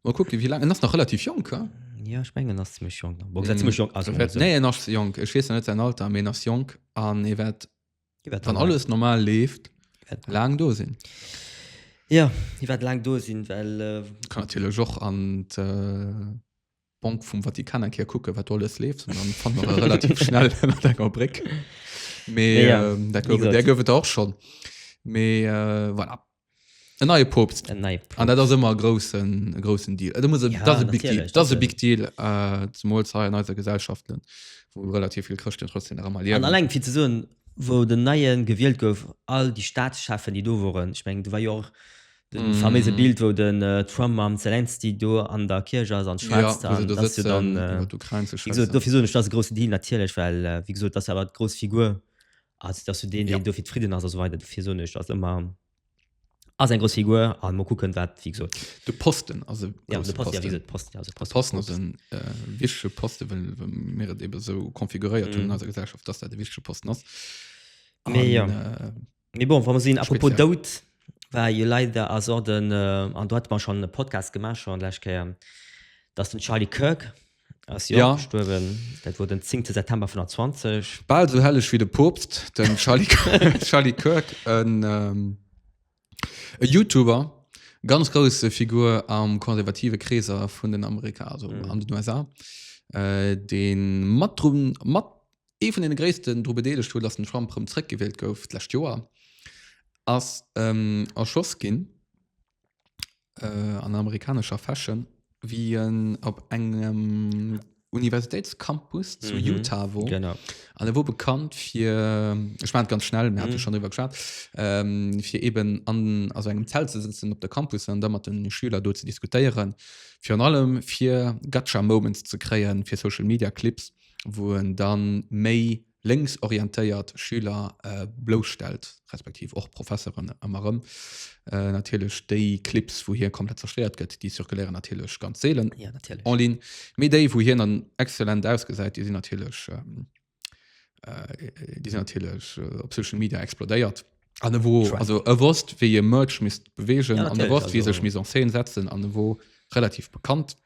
mol kucke wéi laang, en ass nach relativ jonk, he? Jo, ech mengen en ass zimlech jonk nach. Bon, zimlech jonk, also. Nee, en ass jonk. Ech weess nach net säin Alter, mee en ass jonk an e wäert Déi wäert Wann dann- alles normal leeft, Wat- laang do sinn. Ja, déi wäert laang do sinn, well äh, Kann natierlech och an d'Bank vum Vatikan eng Kéier kucken, wat do alles leeft. An dann fanne mer e relativ schnell ënnert enger Bréck. Mee Ja, ja. ähm, dat Wie gouf et, gesagt. där gouf et och schonn. Mee äh, voilà. E neie Poopst. En neie Poopst. An dat ass ëmmer e groussen, e groussen Deal. Et muss, ja, dat ass e Big Deal. Dat ass e Big Deal, äh, zumools hei an eiser Gesellschaft, wou relativ vill Chrëschten trotzdem nach ëmmer liewen. An alleng fir ze soen, wou den Neien gewielt gouf, all déi Staatschefen, déi do woren, ech meng, do war jo och de mm. faméise Bild, wou den äh, Trump mam Zelensky do an der Kirche ass an schwätzt. Ja, do sitzt dann, äh, dofir soen ech, dat ass e groussen Deal, natierlech, well, äh, wéi gesot, dat ass awer d'grouss Figur. Also dass du den, den ja. dofir zufrieden ass, also weiter dofir so nicht, ass immer ass eng grosse Figur an mo kucken wat fi so. De Posten also ja, de Posten, Posten. Ja, Posten, also Posten, Posten, Posten. Äh, wichtige Posten, wenn, wenn mir eben so konfiguriert mm. tun mhm. als Gesellschaft, dass der de wichtige Posten ass. Mir ja. äh, mir bon, wann man sehen, apropos Dout, war je leider as den äh, an dort man schon Podcast gemacht schon gleich dass den Charlie Kirk ass jo ja. gestuerwen. Dat wor den 10. September 2020. Bal sou helleg wéi de Poopst, den Charlie, Charlie Kirk, en ähm, e Youtuber, ganz grouse Figur am konservative Kreeser vun den Amerika, also mhm. an den USA, äh, den mat mat ee vun den gréissten dru bedeelegt huet, dass den Trump rëm zréckgewielt gouf d'läscht Joer ass ähm, erschoss ginn. an amerikanescher Fashion wéi en op engem Universitéitscampus zu mhm. Utah wo genau an er wo bekannt fir ech mein ganz schnell mir mhm. schon iwwerschat ähm, fir eben an also engem Zelt ze sitzen op der Campus an da mat den Schüler do ze diskutieren fir an allem fir gatscher Moments ze kreien fir Social Media Clips wo en dann méi lénks orientéiert Schüler blousstellt, respektiv och Professeren ëmmer erëm. Natierlech déi Clips, wou hie komplett zerstéiert gëtt, déi zirkuléieren natierlech ganz seelen en ligne, mee déi, wou hien dann exzellent ausgesäit, déi sinn natierlech, déi sinn natierlech op Social Media explodéiert. An e wo, also e wosst, wéi e Merch misst beweegen an e wosst, wéi e sech misst en scène setzen an e wor relativ bekannt.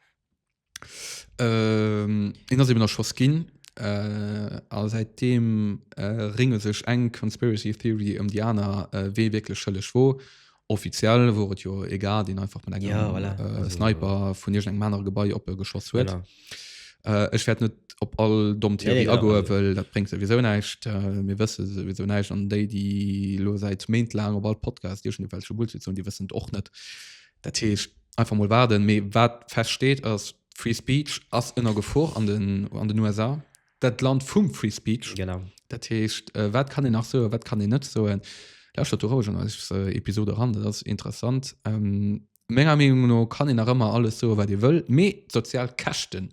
Een ass eben nach schoss ginn a säit deem ringe sech eng Conspiracy Theory ëm déi aner, wee wierklech schëlleg wor. Offiziell wor et jo ee Gard, deen einfach mat engem Sniper vun iergendengem anere Gebai op e geschoss huet. Ech wäert net op all domm Theorie agoen, well dat bréngt souwisou näischt. Mir wësse souwisou näischt an déi, déi elo säit Méint laang op all Podcast iergendewelche Bullshit soen, déi wëssen et och net. Dat heescht, einfach mol waarden. Mee wat feststeet ass, Free Speech ass ënner Gefor an den, an den USA. Dat Land vum Free Speech. Genau. Dat heescht, äh, wat kann een nach soen, wat kann een net soen? Lauschtert do roueg an eis äh, Episode eran, dat ass interessant. Ähm, menger Meenung no kann een nach ëmmer alles soen, wat ee wëll, mee d'sozial Käschten,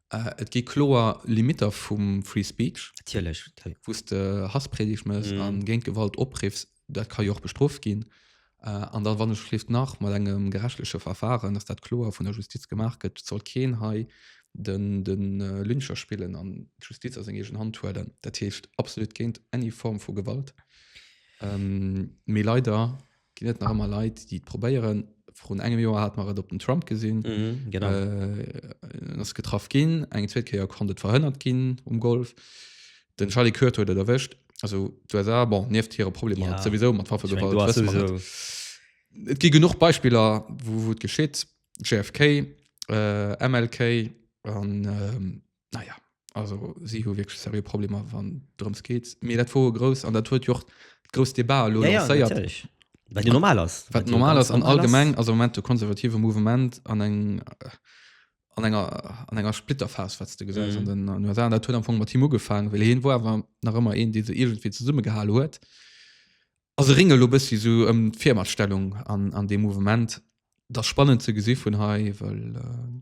Äh, et gi kloer Limitter vum Free Speech. Natierlech. Wou s de Hasspredigt mëss mm. an géint Gewalt opriffs, dat ka jo och bestrooft ginn. Äh, an dann, wann ech schlift nach mat engem gerechtliche Verfahren, dass dat kloer vun der Justiz gemaach gëtt, soll keen hei den, den äh, Lyncher spillen an d'Justiz a seng egen Hand huelen. Dat heescht absolut géint any Form vu Gewalt. Ähm, mee leider Ginn et nach ëmmer Leit, déi et probéieren? Vrun engem Joer hat mer et op den Trump gesinn. Mhm, genau. Äh, en ass getraff ginn, eng zweet Kéier konnt et verhënnert ginn um Golf. Den Charlie Kirk huet et erwëscht. Also d'USA, bon, nieft hire Problemer Ja. ja. souwisou mat Waffe, Ich mein, du hast sowieso. Et gi genuch Beispiller, wou wou et geschitt. JFK, äh, MLK an ähm, naja also sie hu wirklich serie Probleme wann drums geht mir dat vor groß an der Tour jo groß Debar ja, ja, natürlich weil du normal hast weil normal ist an allgemein also moment du konservative Moment an eng äh, an enger an enger Splitterfas wat du gesä mhm. den an USA, der am mat Timo gefangen will hin wo war nach immer en die se irgendwie zu summe geha huet also ringel lo bist wie so ähm, Fimastellung an an dem Moment das spannend zu gesi von hai weil äh,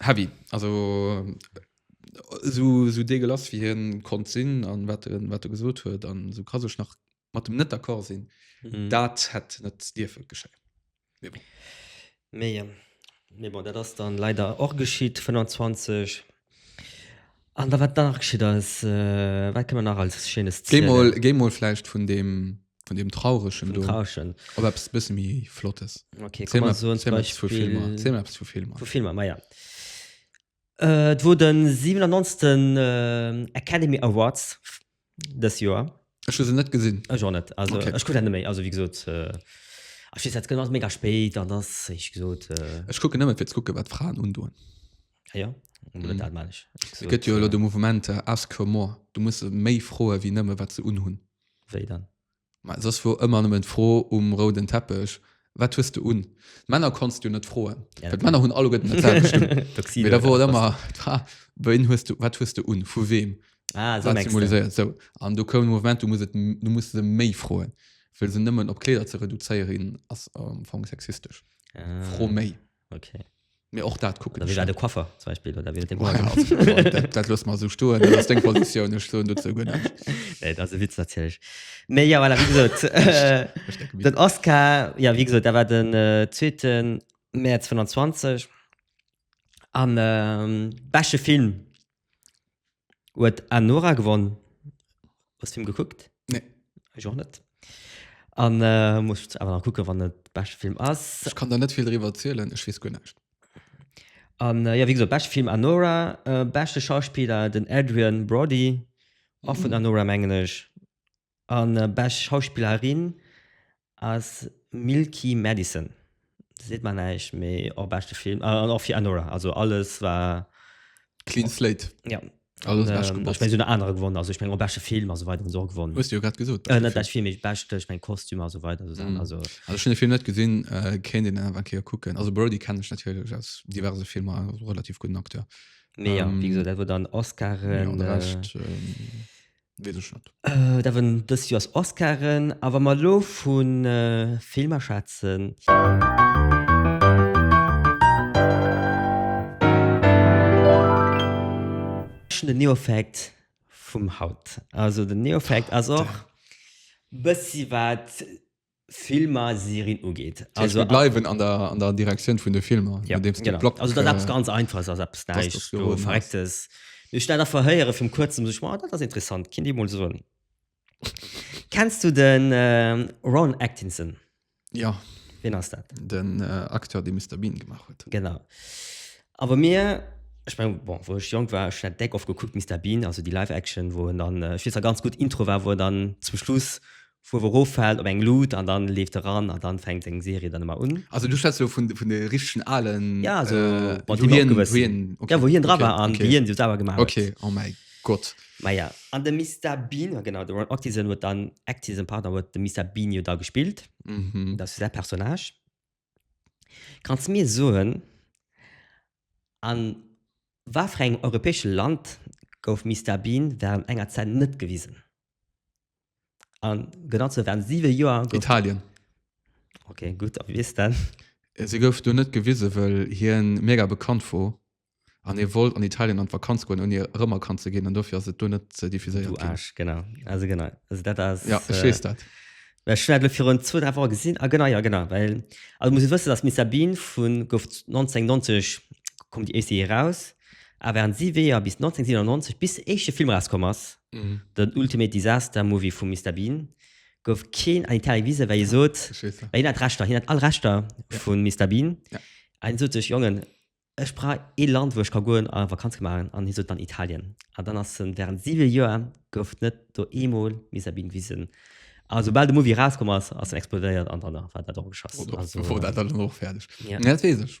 heavy also so so dee gelass wie hien konnt sinn an wat en wat e gesot huet an so ka sech nach mat dem net d'accord sinn Mhm. dat hätt net dierfe geschéien Mee, mee bon, dat ass dann leider och geschitt, 25. An da wat nach geschitt ass, wat kënne mer nach als Schéines zielen? Géi mol vläicht vun deem Trauregen do op eppes e bësse méi Flottes. Okay, komm mer soen zum Beispill. Ziel mer eppes vu Filmer. Vu Filmer, ma ja. Et wor de 97. Academy Awards. Dës Joer. Ech hu se net gesinn. Ech och net. Also okay. ech kucke dat net méi. Also wéi gesot. Äh Ech weess dat gëtt ass mega spéit an ass éich gesot. Äh Ech kucke nëmme fir ze kucke wat d'Fraen undoen. Ah ja. Mhm. Dat man ech. Et gëtt jo elo de Mouvement Ask for more. Du musse méi froe wéi nëmme wat se unhunn. Wéi dann? Ma soss wor ëmmer nëmmen d'Fro um rouden Teppech, Wat hues de un? D'Männer konntst du net froen, well d'Männer hunn alleguerten dat selwecht un. Mee da wor et ëmmer d'Fra, Wéin hues du, wat hues de un? Vu weem? Wat symboliséiert? Sou. An do koum de Moment, du muss et, du muss se méi froen. Well se nëmmen op Kleeder ze reduzéieren, ass am Fong sexistesch. Fro méi. Okay. Mir och dat kucken. Wie war de Koffer zum Beispiel oder wie dem Dat los mal so sto ass deng Positioun ech so dat ze gënn. Et ass e Witz natierlech. Mee ja well wieso Den Oscar ja wie gesot, da war den äh, zweeten März 25 an ähm, besche Film Huet Anora gewonnen? Hues Film gekuckt? Nee. Ech och net. An äh, muss ich awer nach kucke wann et beschte Film ass. Ech kann der net vill driwwer erzielen, ech wees guer näischt. An äh, ja wéi gesot, beschte Film Anora, äh, beschte Schauspieler den Adrian Brody, och vun Anora mengen ech. An bescht Schauspillerin ass Milky Madison. Dat seet mer näischt, mee och beschte Film. An och fir Anora. Also alles war. Clean slate. Ja. Alles bescht gepasst. Ech meng esou nach anerer gewonnen. Also ech meng och beschte Film a sou weider hunn se och gewonnen. Hues de jo grad gesot. Net bescht Film, mee beschte, ech meng Kostüm a sou weider esou Saachen. Also. Also ech hunn de Film net gesinn, kéint een awer eng Kéier kucken. Also Brody kennen ech natierlech aus diverse Filmer, ass och e relativ gudden Acteur. Mee jo, wéi gesot, dat wor dann Oscaren. An de Rescht. Wees ech net. Et awen dës Joers Oscaren, a wa mer elo vun Filmer schwätzen. Ech hunn den Neofact vum haut. Also den Neofact ass och bëssi wat Filmserien ugeet. Also mir bleiwen an der an der Direktioun vun de Filmer ja, nodeems de Blog. Also dat eppes ganz einfaches ass eppes näischt verrecktes. Ech dat einfach héiere vum kuerzem sech ma dat ass interessant kinn dee mol soen. Kenns du den äh, Ron Atkinson? Ja. Wien ass dat? Den äh, Acteur dee Mr Bean gemaach huet. Genau. Awer mir ich mein, bon, wo ech jong war net deck of gekuckt Mr Bean, also die Live Action, wo dann äh, ganz gut Intro war, wo dann zum Schluss Fuerw eroffält op eng Luut an dann leeft e ran an dann fänkt seng Serie dann emmer un. Also du schwätz elo vun vun de richtegen alen Ja esou mat wou hien wou hien ja wou hien dra war an wéi hien se selwer gemaach huet. Ok oh mäi Gott. Maja an de Mister Bean, genau de Rowan Atkinson huet dann Atkinson pardon huet de Mister Bean jo da gespillt, dat ass jo säi Personnage. Kanns mir soen a watfir engem europäesche Land gouf Mister Bean wärend enger Zäit net gewisen? An genau zu während sieben Joer gouf Italien. Okay, gut, a wie's dann? Äh, Se gouf do net gewise wëll hien mega bekannt wor an hie wollt an Italien an d'Vakanz goen ouni erëmerkannt ze ginn an dofir ass et do net äh, diffuséiert Du ginn. Arsch, genau. Also genau. Also dat ass Ja, ech äh, weess dat. Well ech hun dat lo virun zwou, dräi Woche gesinn. Ah, genau, ja, genau. Well, also muss e wëssen, dass Miss Sabine vun, gouf 1990 koum déi éischt Serie raus. A während si Weeër bis 1997 bis de éischte Film erauskomm ass, den Ultimate Disaster Movie vum Mister Bean, gouf keen an Italien gewisen, well hie sot, well hien hat Rechter, hien hat all Rechter vun Mister Bean, a hien sot sech, Jongen, ech brauch ee Land, wou ech ka goen a Vakanz ka maachen, an hie sot dann Italien. An dann ass en, während siwe Joer gouf net do eemol Mister Bean gewisen. A soubal de Movie erauskomm ass, ass en explodéiert an dann war dat och geschoss. Oder war dat dann och fäerdeg. Dat weess ech.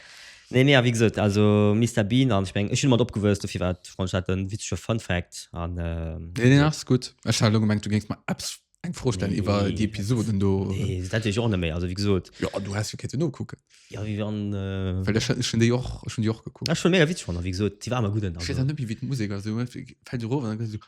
Nee nee a wéi gesot also Mister Bean an ech meng ech hunn domat opgewuess dofir war et fronn ech hat en witzege Fun Fact an Nee deen ass gutt. Ech hat elo gemengt du géings mer eppes eng Fro stellen iwwer déi Episoden do. Nee dat wéi ech och net méi also wéi gesot. Jo du häss jo kéinte nokucken. Jo wéi wann. Well ech ech hunn déi och ech hunn déi och gekuckt. Ech hunn mega witzeg fannen wéi gesot déi war awer gutt en also. Ech weess awer net méi wéi d'Musek ass, du fält erof an da gëss du.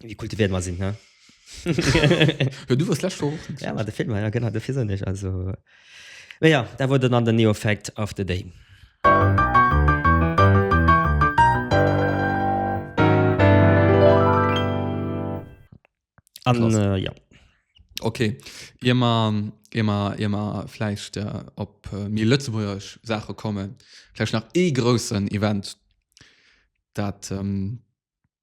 Wie kultiviert man sinn, ne? ja, du warst letzte Woche. Ja, war der Film, ja, genau, dafür sind ich. Also, ja, da wurde dann der Neo Fact of the Day. An, äh, ja. Okay, immer, immer, immer vielleicht äh, ob äh, mir Lützeburg Sache kommen, vielleicht nach eh großen Event, dat ähm,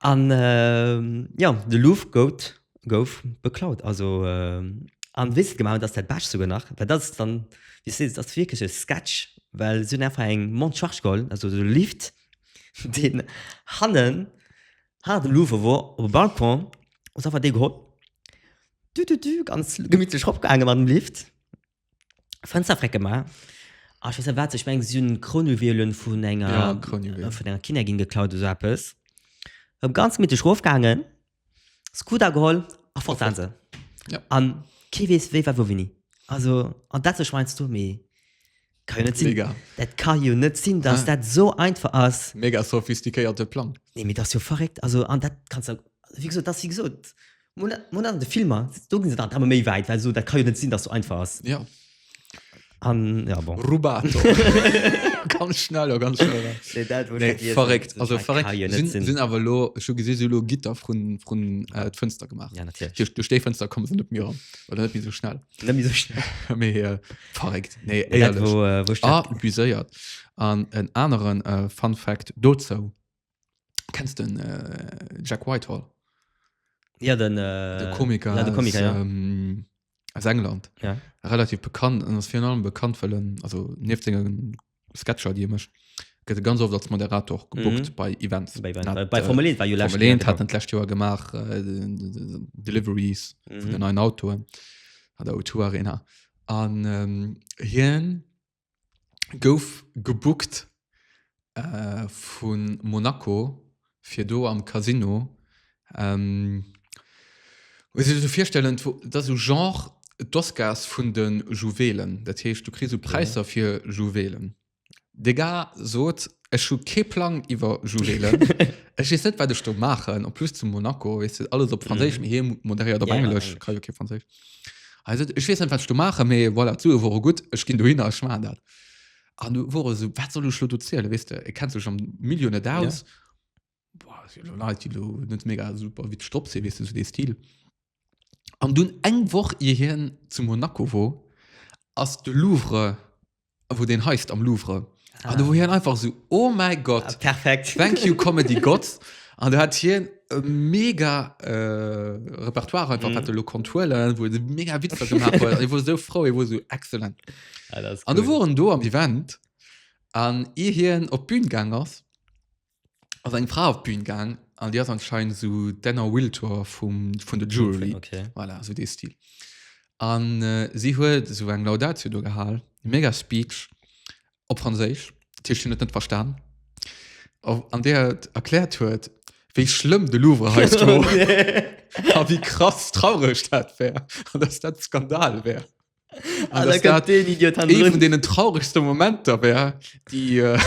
An jo, de Louvre gout, gouf, beklaut. Also an wéi se et gemaach hunn, dat ass dat Bescht souguer nach, well dat ass dann, wéi seet, dat ass wierklech e Sketch, well se hunn einfach eng Monte charge geholl, also esou e Lift, deen hannen, hanner dem Louvre wor, op e Balcon, hu se einfach dee geholl, du-du-du, ganz gemittlech eropgaange mat dem Lift, Fenster frecken mal. Ah, ich weiß nicht, was, ich meine, sie haben Kronjuwelen von einer, ja, Kronjuwelen. von einer Kindergin geklaut oder so etwas. Hab ganz mittig raufgegangen, Scooter geholt, ach, fort waren sie. Ja. An, kein weiß, wie war, wo, wie nie. Also, an das ist meinst du, mir, kann ja nicht sein. Mega. Das kann ja nicht sein, dass ja. das so einfach ist. Mega sophisticated Plan. Nee, mir das ist ja verrückt. Also, an das kannst du, wie gesagt, das, wie gesagt, Mol an de Filmer do gin se dann emmer méi wäit, well esou dat ka jo net sinn, dass sou einfach ass. Ja. An ja bon. Rubato. ganz schnell a ganz schnell. Nee, dat wär Nee, vergiess. verréckt. Also Dat verréckt. kann jo net Sinn, sinn. sinn awer lo, ech hu gesinn, si hu lo Gitter vrun, vrun äh, d'Fënster gemaach. Ja, natierlech. Duerch, duerch déi Fënster kommen se net mir ran. Oder net méi so schnell. Net méi sou schnell. Mee äh, verréckt. Nee, Dat, éierlech. wou, äh, wou ich Ah, dat- buséiert. An en aneren äh, Fun Fact dozou. kennst den äh, Jack Whitehall ja den äh, de Komiker, ja, de Komiker aus, ja. ähm, aus England ja. relativ bekannt an ass fir allem bekannt well en also nieft sengen Sketcher déi e mécht gëtt e ganz oft als Moderator gebucht Mhm. bei Events bei, Hat, bei, bei äh, Formel 1 war jo letztes Formel Jahr 1 hat gekommen. en d'lescht Joer gemaach äh, de- de- de- Deliveries vun den Mhm. neuen Autoen hat der O2 Arena an ähm, hien gouf gebookt äh vu Monaco fir do am Casino ähm muss een sech esou virstellen dat ass esou genre d'Oscars vun de Juwelen dat heescht du kriss esou Präisser fir Juwelen de gars sot ech hu kee Plang iwwer Juwelen ech weess net wat ech do maachen en plus zu Monaco weess de alles op franséisch mee hie moderéiert op englesch ech kann jo kee franséisch. Also ech wees net wat du mache me voilà, d'Sue wore gutt, ech ginn du hin a schma dat. An du wore so wat soll lo du ziele wis de e kennt sech am Millio net aus net mega super wie stop se wis du de Stil. An dun eng woch je hien zu Monaco wo ass de Louvre wou den heist am Louvre ah. an du wo hien einfach so oh mein Gott ah, perfekt thank you comedy Gott an du hat hien e mega äh, Repertoire einfach mm. lo Konturen wo de mega Witzer gemacht huet ich wo so froh ich wo so excellent ah, an cool. du woen do am Event an e hien op Bühnengang ass ass eng Fra op d'Bün gang an Di ass anscheinend so Denner Wiltor vum vun de Jury okay. voilà, so dee Stil. An äh, si huet so eng Laudatio do gehal, mega Speech op Franséisch, Tisch hun et net verstan. Auf, an der et erkläert huet, wéi schlëmm de Louvre heist war a wéi krass traureg dat wär an dass dat Skandal wär. Ah, dass dat den Idiot han Ee vun deenen trauregste Momenter wär, déi äh,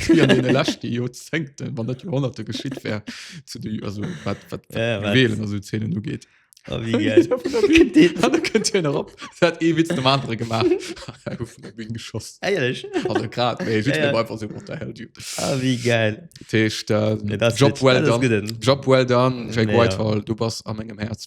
déi an deene leschte Joerzéngten, wann net Joerhonnerte geschitt wär, zu de also wat wat ja, ja, Juwelen also Zähnen ugeet. Oh, wie geil. da könnt ihr noch op. Dat ee Witz dem andere gemacht. vun der Bühne geschoss. Ehrlich? Also grad, nee, ich ja, ja. einfach so what the hell, dude. Ah, wie geil. Tisch, da, nee, Job, well done. Job well done. Jack nee, Whitehall, ja. du bist an meinem Herz.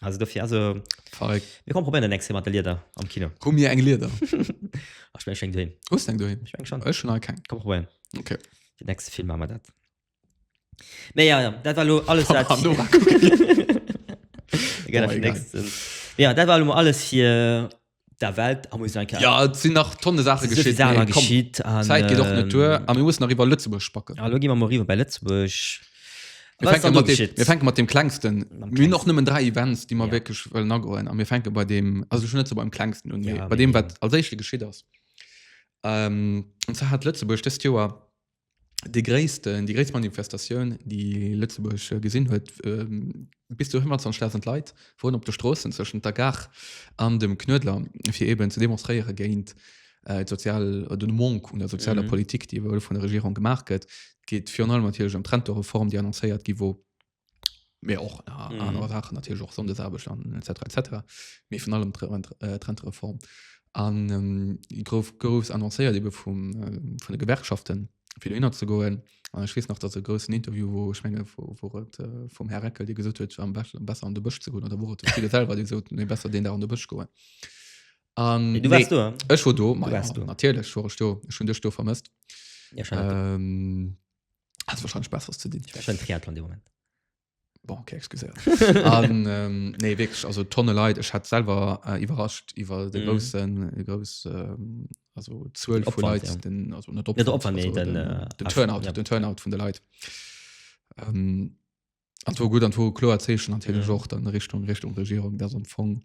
also dofir also Verrückt. mir kommen probieren den nächste mat der Lieder am Kino Komm mir eng Lieder. Ach, ich mein, ich schenk du hin Hues eng doheem? ich mein, schon Ech schon all keng. komm probieren Okay. den nächste Film machen wir dat nee ja ja dat war lo alles wat An Nora kucken. Egal, Boah, egal. nächsten. ja dat war lo mol alles fir der Welt a muss en Kéier Ja, et sinn nach Tonne Saache sou vill geschitt, Saachen mee komm, geschitt an d'Zäit geet och net duer a mir mussen nach iwwer Lëtzebuerg spacken. Elo gi mer mol riwwer bei Lëtzebuerg. Mir Wat ass fänke dann do mat deem, geschitt? mir fänke mat deem klengsten. Mam Mir hunn och klengsten. nëmmen dräi Events, déi mer Ja. wierklech wëllen agoen a mir fänke bei deem, also ech hunn net sou beim klengsten un, Ja, mee bei deem, wat mee- als éischte geschitt ass. Ähm, an zwar hat Lëtzebuerg dëst Joer de gréissten, déi gréisst Manifestatioun, déi Lëtzebuerg gesinn huet. Ähm, bis zu 25.000 Leit woren op de Stroossen zwëschent der Gare an dem Knuedler, fir eben ze demonstréiere géint äh, sozial, den Monk un der sozialer mhm. Politik, déi ewuel vun der Regierung gemaach gëtt. Geet virun allem natierlech ëm d'Rentoreform, déi annoncéiert gi wor Mee och na, Mhm. anerer Saachen natierlech och Sonndesarbecht an etc etc. Mee vun allem Tre- Rent- äh, d'Rentereform. An ähm, grouf gouss annoncéiert ebe vum ähm, vun de Gewerkschaften fir dohinner ze goen. An ech weess nach, datt e groussen Interview wou ech menge wo wor et äh, vum Här Reckel, dee gesot huet am bech- besser an de Bësch ze goen oder wor et de Friede selwer dee sot nee besser deen Dag an de Bësch goen. An Hey, du warst du, hm? Ech war do, ma Du warst ja, do. natierlech war ech do. Ech hunn dech do vermësst. Ja, schon. Ähm, Hat wahrscheinlich besseres zu dinn. Schön Triathlon de Moment. Bon, okay, excuséiert. An, ähm, nee, wirklich, also Tonne Leid. Ech hat selber äh, überrascht über den Mhm. großen, die groß, ähm, also Zuel Den von Opwand, Leid, ja. den, also nicht Opwand, den Opwand, also nee, den, den, äh, den Aff- Turnout, ja. den Turnout von der Leid. Ähm, an war gut, an war klar Zeichen natürlich Mhm. auch dann Richtung, Richtung Regierung, das am Fong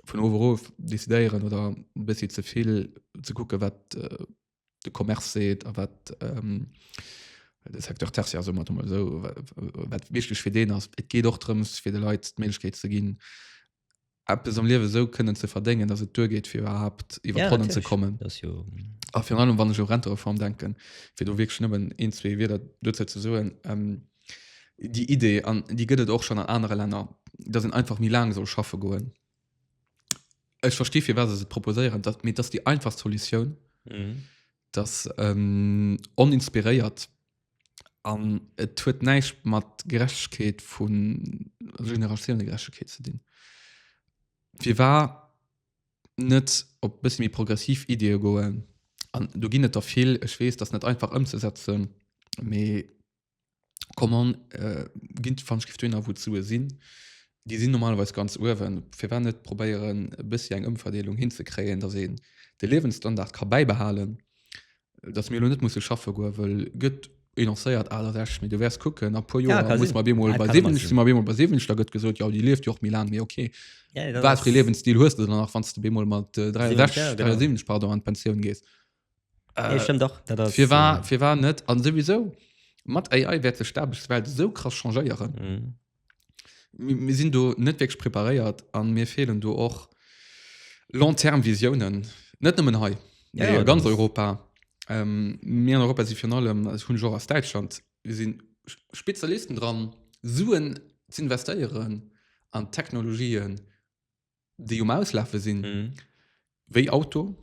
von oben auf decideren oder ein bisschen zu viel zu gucken, was äh, de Commerce seet a wat ähm, de Secteur tertiär so mat so wat wichteg fir deen ass. Et geet och drëms fir de Leiit d'Mëllechkeet ze ginn Apps am Liewe so kënnen ze verdéngen, dass et duergeet fir überhaupt iwwer ja, Ronnen ze kommen. Jo... A fir allem wann ech o Rentereform denken, fir du wiesch nëmmen een zwee Wieder duze ze soen. Ähm, die Idee an die gëtt et och schon an anere Länner, dat en einfach mi laang soll schaffe goen. Ech verstehe fir was se proposéieren dat mit dass die einfach Soluioun mhm. das ähm, oninspiréiert an et huet neicht mat Gerechtegkeet vu Generatiounen Gerechtegkeet ze dinn. Wie war net op bis mir progressiv Idee goen an du ginn et der vill Ech wees das net einfach ëmzesetzen méi Commande äh, ginn d'Vanschriften dohinner, wou d'Sue sinn. Déi sinn normalerweis ganz uewen. Firwat net probéieren, e bëssi eng Ëmverdeelung hinzekréien, dass een de Liewensstandard ka bäibehalen, dass mir elo net musse schaffe goen, wëll gëtt ee lancéiert 68, mee du wäers kucken, a puer Joer si mer op eemol bei 70, si mer op eemol bei 70, da gëtt gesot, jo déi lieft jo och méi laang, mee ok, wat fir ee Liewensstil hues de dann nach, wann s de op eemol mat 63, 73, pardon, an d'Pensioun gees? Äh, ja, stimmt doch. Das fir war, äh, fir war net an sowieso mat AI werd sech d'Aarbechtswelt so krass changéieren. Mhm. Mir, mir sinn do net wirklich preparéiert an mir fehlen do och long-term Visionen. Net nëmmen hei, Ja, ja, ja, ganz das- Europa. Ähm, mir an Europa si fir allem als hunn Jo aus Deutschland. Wir sinn Sch- Spezialisten dran, Suen ze investéieren an Technologien déi um Auslafe sinn, mhm. wéi Auto,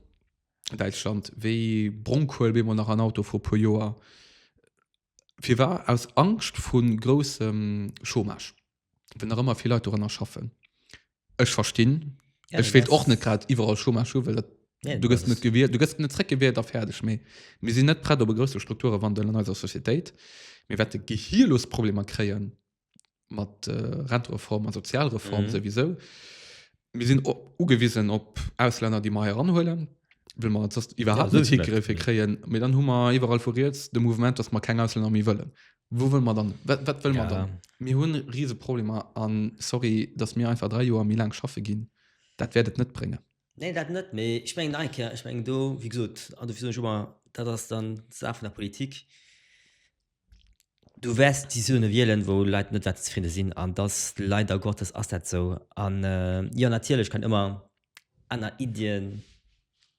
Deitschland, wéi Bronkuel bemmer nach an Auto vu puer Joer, fir war aus Angst vun groussem Chômage, wenn nach ëmmer vill Leit doranner schaffen. Ech verstinn, ja, ech wéilt och net grad iwwerall Chômage hu, well dat Ja, du gëst net gewiert, du gëst net zréck gewiert a fäerdeg méi. Mir sinn net prett op e grousse Strukturewandel an eiser Societéit. Mir wäerte gehirlos Problemer kréien, mat äh, Rentereform an Sozialreform mhm. sowieso. Mir sinn ugewiesen op Ausländer, die meier anhuelen will man sonst überhaupt nicht Griffe kreieren mir dann Hummer überall vor jetzt dem Moment dass man kein Ausländer mehr wollen wo will man dann was, was will ja. man dann mir hun riesige Probleme an sorry dass mir einfach drei Jahre mir lang schaffe gehen das werdet nicht bringen nee, das nicht mehr ich mein, ich mein, du wie gesagt, du schon mal das dann Sache von der Politik Du wäers déi Zone wielen, wou Leit net wäerte zefridde sinn, an dass, leider Gottes ass dat esou. An jo, natierlech kënnen ëmmer aner Iddien,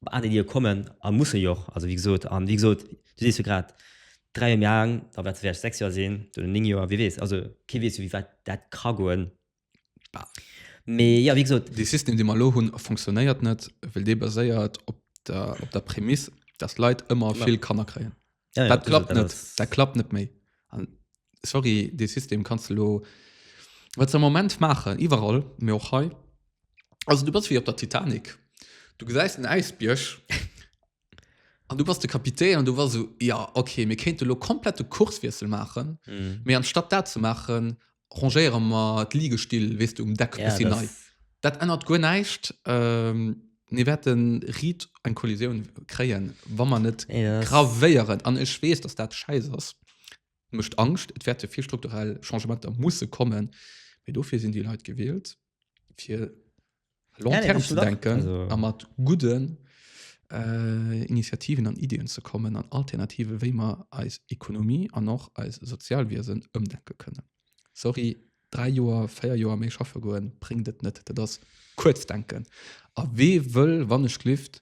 aner Iddie kommen a musse jo och. Also wéi gesot, an wéi gesot, du sees jo grad, dräi Joer méi aang, da wäert se vläicht sechs Joer sinn, duerno néng Joer, wie weess. Also kee weess jo, wéi wäit dat ka goen. Mee jo wéi gesot. Dee System, dee mer elo hunn, funktionéiert net, well dee baséiert op der, op der Prämiss, dass Leit ëmmer vill Kanner kréien. Ja, dat klappt net, dat klappt net méi. An sorry, dee System kanns de elo, wat se am Moment maachen, iwwerall, mee och hei, also du bass wéi op der Titanic, du gesäis den Äisbierg An du bass de Kapitän an du war so, ja, okay, mir kéinte lo komplett de Kurswiessel maachen, Mhm. mee anstatt dat ze maachen, rangéiere mer d'Ligestill, weess du, um Deck Ja, bisschen nei. das, Dat ännert guer näischt. Ähm, mir wäerten riit eng Kollisioun kréien, wa mer net nee, das, gravéieren. An ech weess, dass dat schäiss ass. Mécht Angscht. Et wäerte vill strukturell Changementer musse kommen, mee dofir sinn déi Leit gewielt. fir long term zu denken a mat gudden äh, Initiativen an Ideenn ze kommen an Alternative wéi mer eis Ekonomie an och eis Sozialwiesen ëmdenke kënne. Sorry 3 Joer 4 Joer méi schaffe goen bringt et net. Dat ass kuerz denken. A wee wëll wann ech lift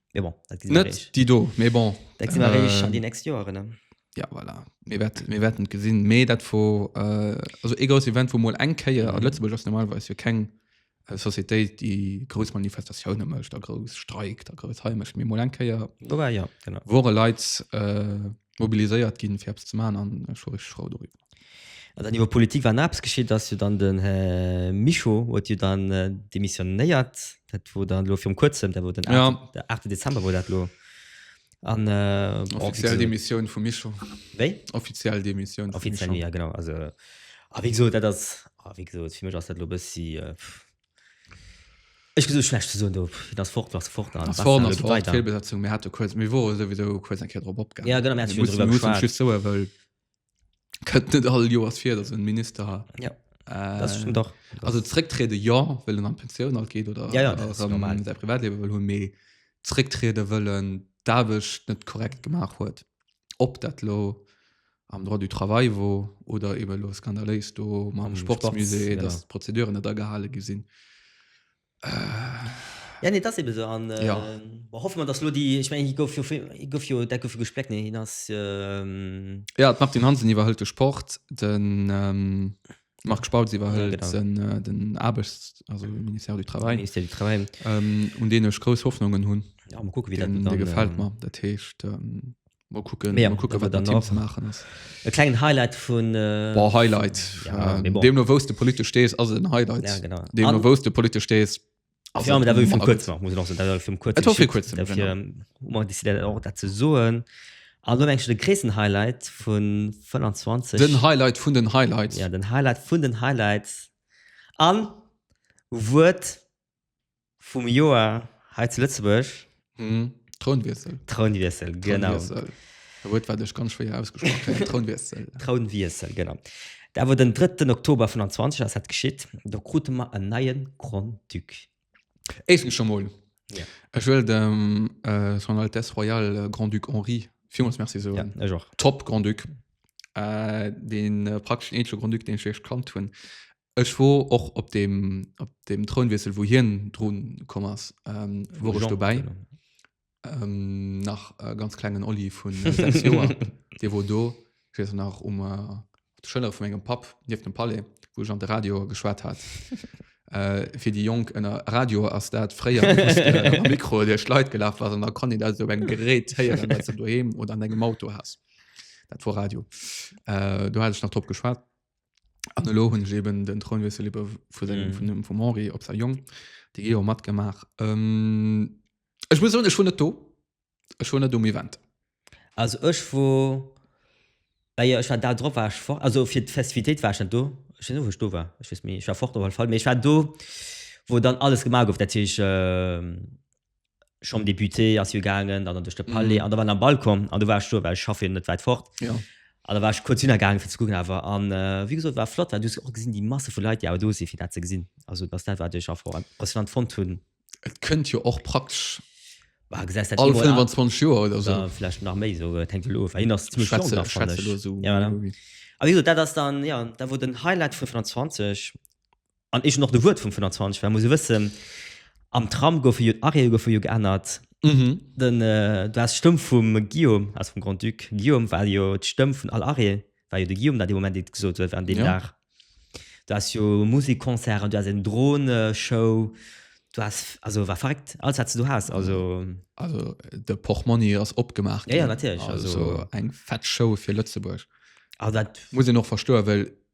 Mais bon, dat gesinn mer Net réich. déi do, mee bon. Dat gesinn mer réich an Äh, déi nächst Joeren, ne? Ja, voilà. Mir wäert- mir wäerten et gesinn. Mee dat wor, äh, also ee grouss Event, wou mol eng Kéier, a Mhm. Lëtzebuerg ass normalerweis jo keng äh, Sociétéit, déi grouss Manifestatioune mécht a grouss streikt a grouss hei mécht, mee mol eng Kéier Wobei, ja, genau. wore Leit äh, mobiliséiert ginn, fir eppes ze maachen, an ech wor richteg frou doriwwer. An dann iwwer Politik, wa eppes geschitt ass jo dann, den Här Mischo huet jo dann demissionéiert, dat wor dann elo virum Kuerzem, dat wor den aachte Dezember wor dat elo. Offiziell Demissioun vum Mischo. Wéi? Offiziell Demissioun vum Mischo. Offiziell, jo genau. A wéi gesot, dat ass, wéi gesot, fir mech ass dat elo e bëssi, Ech gin esou schlecht ze soen do, hien ass fort, ass fort, ass fort, ass fort, weiter. Fehlbesetzung, mir hate kuerz, mir wore souwisou kuerz eng Kéier drop opgaangen. Ja, genau, mir hate schon drüber geschwat. Just soe wëll, kënnt net all Joers vir, dass en Minister ja. äh, das stimmt doch. Also zrécktriede ja, wëll en an Pensioun alt geet oder ja, ja, das ähm, normal. säi Privatleben wëll hunn, mee zrécktriede wëllen d'Aarbecht net korrekt gemaach huet. ob dat lo am droit du travail wor oder eben lo skandaléis do mam Am Sports, Sportsmusée genau. dass d'Prozeduren net agehale gi sinn äh, Ja, nee, das eben so. An, äh, Ja. boah, hoffe man, dass lo die, ich meine, hier gouf jo, viel- hier gouf jo, dat gouf jo gespleckt, nee, hin ass, ähm, Ja, d'Martine Hansen iwwerhëlt de Sport. Den ähm, Marc Spautz iwwerhëlt ja, genau. den Aarbechts also Ministère du Travail, Ministère du Travail. Ähm, un deen ech grouss Hoffnungen hunn. Ja, mal gucken, wie den, dat dann, gefällt mir. Dat heescht, ähm, mal kucken, ja, mal kucken wat Team ze maachen ass. E klengen Highlight vun. Äh, Boah, Highlight. Ja, äh, bon. Deemno wous de politesch stees, ass et en Highlight. Ja, genau. Deemno wous de politesch stees. Also, ja, dat vum kurz nach, muss nach, dat vum kurz dat ze soen an du denkst de kreessen Highlight vun 25 den Highlight vun den Highlights ja den Highlight vun den Highlights an Wuert vum Joer he zu Lëtzebuerg Hm. Trounwiessel. Trounwiessel, genau. Trounwiessel. E Wuert, wat ech ganz schwéier ausgesprach kréien. Trounwiessel. Trounwiessel, genau. Dat awer den 3. Oktober 25 ass dat geschitt. Do krute mer en neie Grand-Duc. Éischtens scho mol, Ja. ech wëll dem äh, Son Altesse Royale äh, Grand-Duc Henri villmools Merci Ja, soen. ech och. Top Grand-Duc. Äh, den äh, praktesch den eenzege Grand-Duc, deen ech wierklech kannt hunn. Ech wor och op deem op deem Trounwiessel wou hien drun komm ass ähm, wor ech Jean dobäi. Präsident. Ähm, nach e ganz klengen Oli vun 6 Joer, dee wor do. Ech weess nach um äh, op de Schëllere vu mengem Papp nieft dem Palais, wou ech an de Radio geschwat hat. äh, fir déi Jonk ënner Radio ass dat fréier just äh, mat dem Mikro duerch d'Leit gelaf ass an da konnt een dat op engem Gerät héieren, wat s de doheem oder an dengem Auto has. Dat wor Radio. Äh, do hat ech nach drop geschwat. an elo hunn ech eben den Trounwiessel iwwer vu sengem Mhm. vun dem vum Henri op sei Jong déi Geo matgemaach ähm, ech muss soen ech wor net do ech wor net um Event Also ech wor ah jo, ech war d'Aer drop war ech fort, also fir d'Festivitéit war ech net do. Ech weess net wou ech do war, ech weess méi, ech war fort op alle Fall, mee ech war do wou dann alles gemaach gouf, dat heescht ähm, Chambre députée ass jo gaangen, dann duerch de Palais an da war am Balcon an du war ech do, well ech schaffen net wäit fort. Ja. An da war ech kurz hinner gaangen fir ze kucken awer an äh, wie gesot war flott, well du och gesinn déi Masse vu Leit, déi awer do si fir dat ze gesinn. Also dass dat war duerch a froh impressionant fond hunn. Et kënnt jo och praktesch war gesäis dat all 25 Joer oder so. Ja, vielleicht nach méi so äh, tank of hin ass ziemlich schwätze, nach, schwätze so. ja, ja. Aber wieso dat ass dann ja da wo den Highlight vu 25 An eech hun och de Wuert vum 25 war, muss e wëssen, am Tram goufe jo, d'Arrête goufe jo geännert. Den, du has d'Stëmm vum Guillaume, also vum Grand-Duc Guillaume war jo d'Stëmm vun all Arrêt, war jo de Guillaume, dat dee Moment dee gesot huet an deem Dag. Du has jo Musikconcerten, du has eng Droneshow, du has, also war verréckt, alles wat s de do has, also. Also de Portmonni ass opgemaach ginn. Jo, jo, natierlech, also. Also eng fett Show fir Lëtzebuerg. Also dat. Muss een och verstoen, well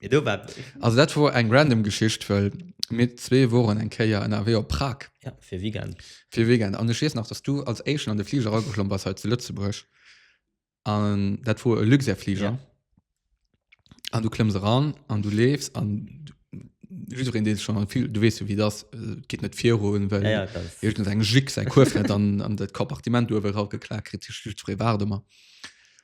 Ja, do war Also dat wor eng random Geschicht, well mir zwee woren eng Kéier ënnerwee op Prag ja, fir Weekend. fir e Weekend. An ech weess nach, dass du als Éischten an de Fliger erageklomm bass hei zu Lëtzebuerg. An dat wor e Luxair-Fliger. Ja. An du klëmms eran an du leefs an du- jiddereen, dee sech schonn am Fliger, du weess jo, wéi et ass, et geet net virun, well Ja, ja, klar. iergendeng Jick säi Kuerf net an, an dat Kompartiment uewe erageklaakt kritt. Jiddweree waart ëmmer.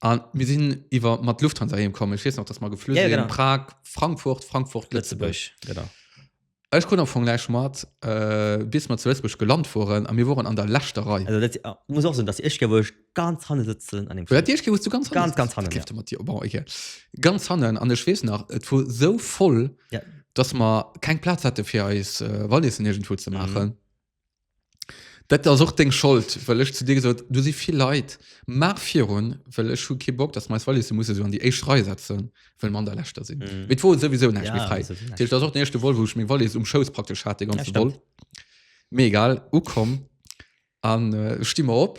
An mir sinn iwwer mat Lufthansa hiem kommen. Ech weess nach, dass mer geflü ja, genau. Prag, Frankfurt, Frankfurt, Lëtzebuerg. Genau. Ech krut am Fong gleich mat äh, bis mat zu Lëtzbusch geland fuhren a mir woren an der lächter Rei. Also dat ah, muss och sinn, dass Ech woch ganz hanne sitzen an dem Flug. Dir wost du ganz ganz ganz hannen, ja. mat dir bon, okay. ganz hannen an ech wees nach et wo so voll ja. dass ma keng Platz hätte fir eis äh, Wallissen irgendwo ze machen. Mhm. Dat ass och deng Schold, well ech zu dir gesot hunn, do si vill Leit, maach virun, well ech hu kee Bock, dass mer eis Wallissen musse sou an déi éischt Rei setzen, well mer an der leschter sinn. Mee et wor souwisou näischt méi fräi. Dat heescht, dat ass och den éischte Vol, wou ech meng Wallis um Schouss praktesch hat de ganze Vol. Mee egal, ukomm a sti mer op.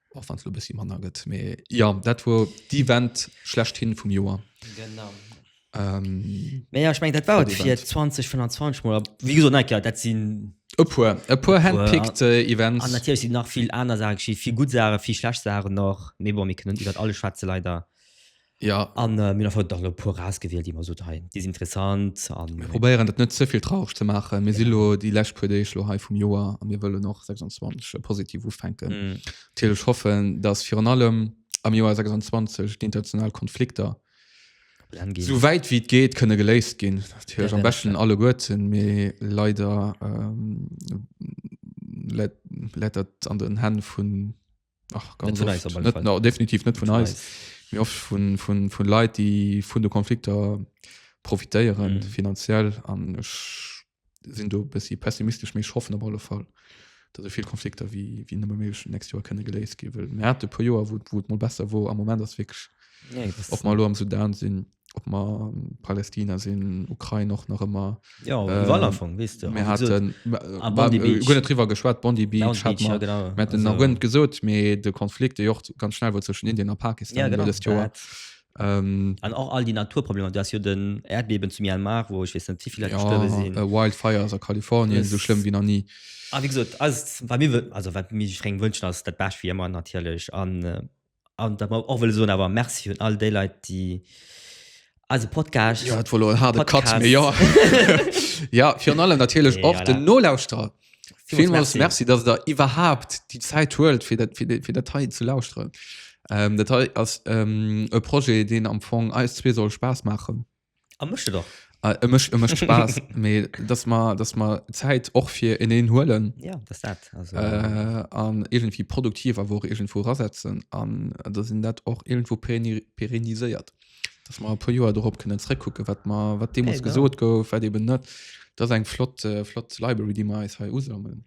och wann du bisschen manner gëtt me ja dat wo die Wand schlecht hin vum Joer genau ähm, me ja ich mein dat war dat fir 20 von 20 mal wie gesagt, nein, klar, dat sinn e puer e puer handpickt äh, Events an natürlich sinn nach viel aner Sachen geschieht viel gut Sachen viel schlecht Sachen noch me bon mir können iwwer alles schwätze leider Jo. An mir hunn einfach dach elo e puer erausgewielt, déi mer gesot hunn, hei, déi sinn interessant. An Mir probéieren dat net ze vill traureg ze maachen. Mir si lo déi lescht puer Deeg lo hei vum Joer a mir wëllen och 26 positiv ufänken. Natierlech hoffen, dass virun allem am Joer 26 déi international Konflikter Brenn ginn. esou wäit wéi et geet kënne geléist ginn. Natierlech am beschten alleguerten, mee leider läit dat an den Hänn vun. Ach, ganz net eis, net, no, definitiv net vun eis mir oft vun vun vun Leiit déi vun de Konflikter profitéieren mm. finanziell an sinn du bis si pessimistisch méch hoffen op alle Fall dat vill Konflikter wie wie nëmme méschen next Joer kënne geléis gi wë Mä de pu Joer wot wot mo besser wo am moment ass wég op mal lo am Sudan sinn ob mer Palästina sinn, Ukrain och nach ëmmer. Jo, ähm, iwwerall am Fong, wees du. Mir hatten, ah, Bondi Beach. Gunnet River geschwat, Bondi Beach, Bondi Beach ja, genau. Mir hatten also, nach Gunnet gesot, mee de Konflikt, de Jocht ganz schnell war zwischen Indien a Pakistan, ja, genau, das Joer. Ähm, an auch all die Naturprobleme du hast ja den Erdbeben zu Myanmar wo ich wissen zu viele ja, sind äh, wildfires aus Kalifornien so schlimm wie noch nie ah, wie gesagt, also, mir, also, mir wünschen dass das Best wie immer natürlich an äh, an dat mer och wëlle soen awer Merci un all déi Leit, déi eise Podcast. Ja, et war lo en harde Cut, Podcast. mee jo. ja, virun allem natierlech Nee, och voilà. den Nolauschterer. Villmools Villmools merci. Merci, dass der iwwerhaapt déi Zäit huelt, fir dat, fir, de- fir dat hei ze lauschteren. Ähm, dat hei ass ähm, e Projet, deen am Fong eis zwee soll Spaass maachen. An mécht et och. Äh, e mécht e mécht Spaass, mee dass mer dass mer Zäit och fir eneen huelen. Ja, dass dat also. Äh, an iergendwéi produktiv awer och iergendwou erasetzen an dass een dat och iergendwou pérenni pérenniséiert. Dass mer e puer Joer dorop kënnen zréckkucken, wat mer wat deemools Ja, genau. gesot gouf, wat eeben net. Dat ass eng flott flott Library, déi mer eis hei usammelen.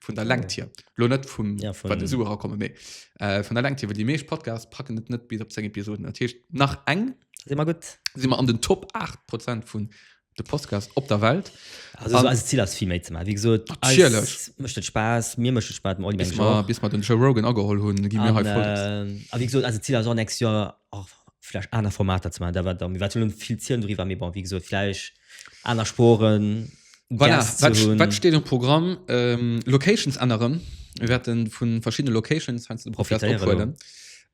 vun der Längt hier lo net vum ja, von, de Sue rakomme méi äh, vun der Längt hier die meesch Podcast packen net net bis op 10 Episoden Tischcht nach eng si immer gut si immer an den Top 8 Prozent vun de Podcast op der Welt also, so, also Ziel as viel méi ze machen wie gesagt mcht Spaß mir mcht Spaß mal, bis, mal, bis mal den Joe Rogan agehol hun gi mir halt äh, wie gesagt also Ziel as next Jahr auch vielleicht aner Formater ze man da war mir wat viel Zielen drüber mir bon wie gesagt vielleicht Aner Sporen. Voilà, wat steet um Programm? Ähm, Locations änneren. Mir wäerten vun verschiddene Locations weinst de Profi ophuelen.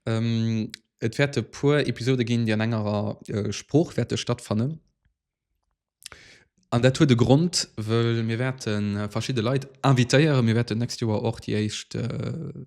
Ähm, et wäerte puer Episode ginn, déi an engerer äh, Sprooch wäerte stattfannen. An dat huet de Grund, wëll mir wäerten äh, verschidde Leit invitéieren. Mir wäerten nächst Joer och déi éischt äh,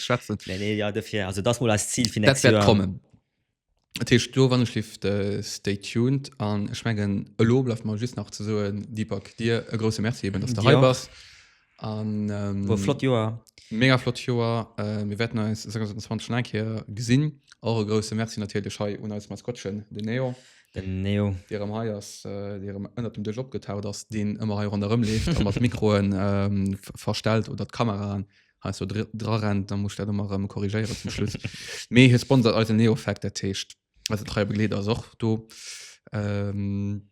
schwätzen nee, nee, ja, dafür, also das mal als Ziel für nächstes Jahr kommen Tisch du wann schlift äh, stay tuned an ich mengen lo bleibt mal just nach zu so Deepak dir e große Merci eben dass du ja. bist an ähm, war flott Joer mega flott Joer äh, wir werden uns 2020 schon ein Kehr gesehen eure große Merci natürlich hei und als Maskottchen den Neo den Neo der am Haiers äh, der am ënner dem Dëch opgetaucht ass den ëmmer hei rondërëm leeft mat Mikroen ähm, verstellt oder d'Kameraen heißt so dr- dra rennt dann muss ich dat immer rem korrigéieren zum Schluss mee hier sponsert eisen Neofact der Techt also treue Begleeder ass och do ähm,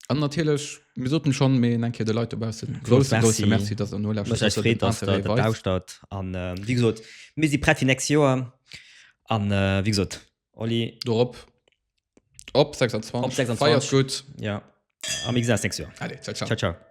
an natierlech mir soten schon mee eng Keer de Leit dobaussen Groß grosse grosse Merci. Merci dass der no Mech echt freet, dass der dat lauschtert. An äh, wéi gesot, mir si prett fir nächst Joer. An äh, wéi gesot, Oli. Dorop. Op 26. Op 26. Feiers gutt. Ja. Am XS nächst Joer. Allez, ciao, ciao. Ciao, ciao.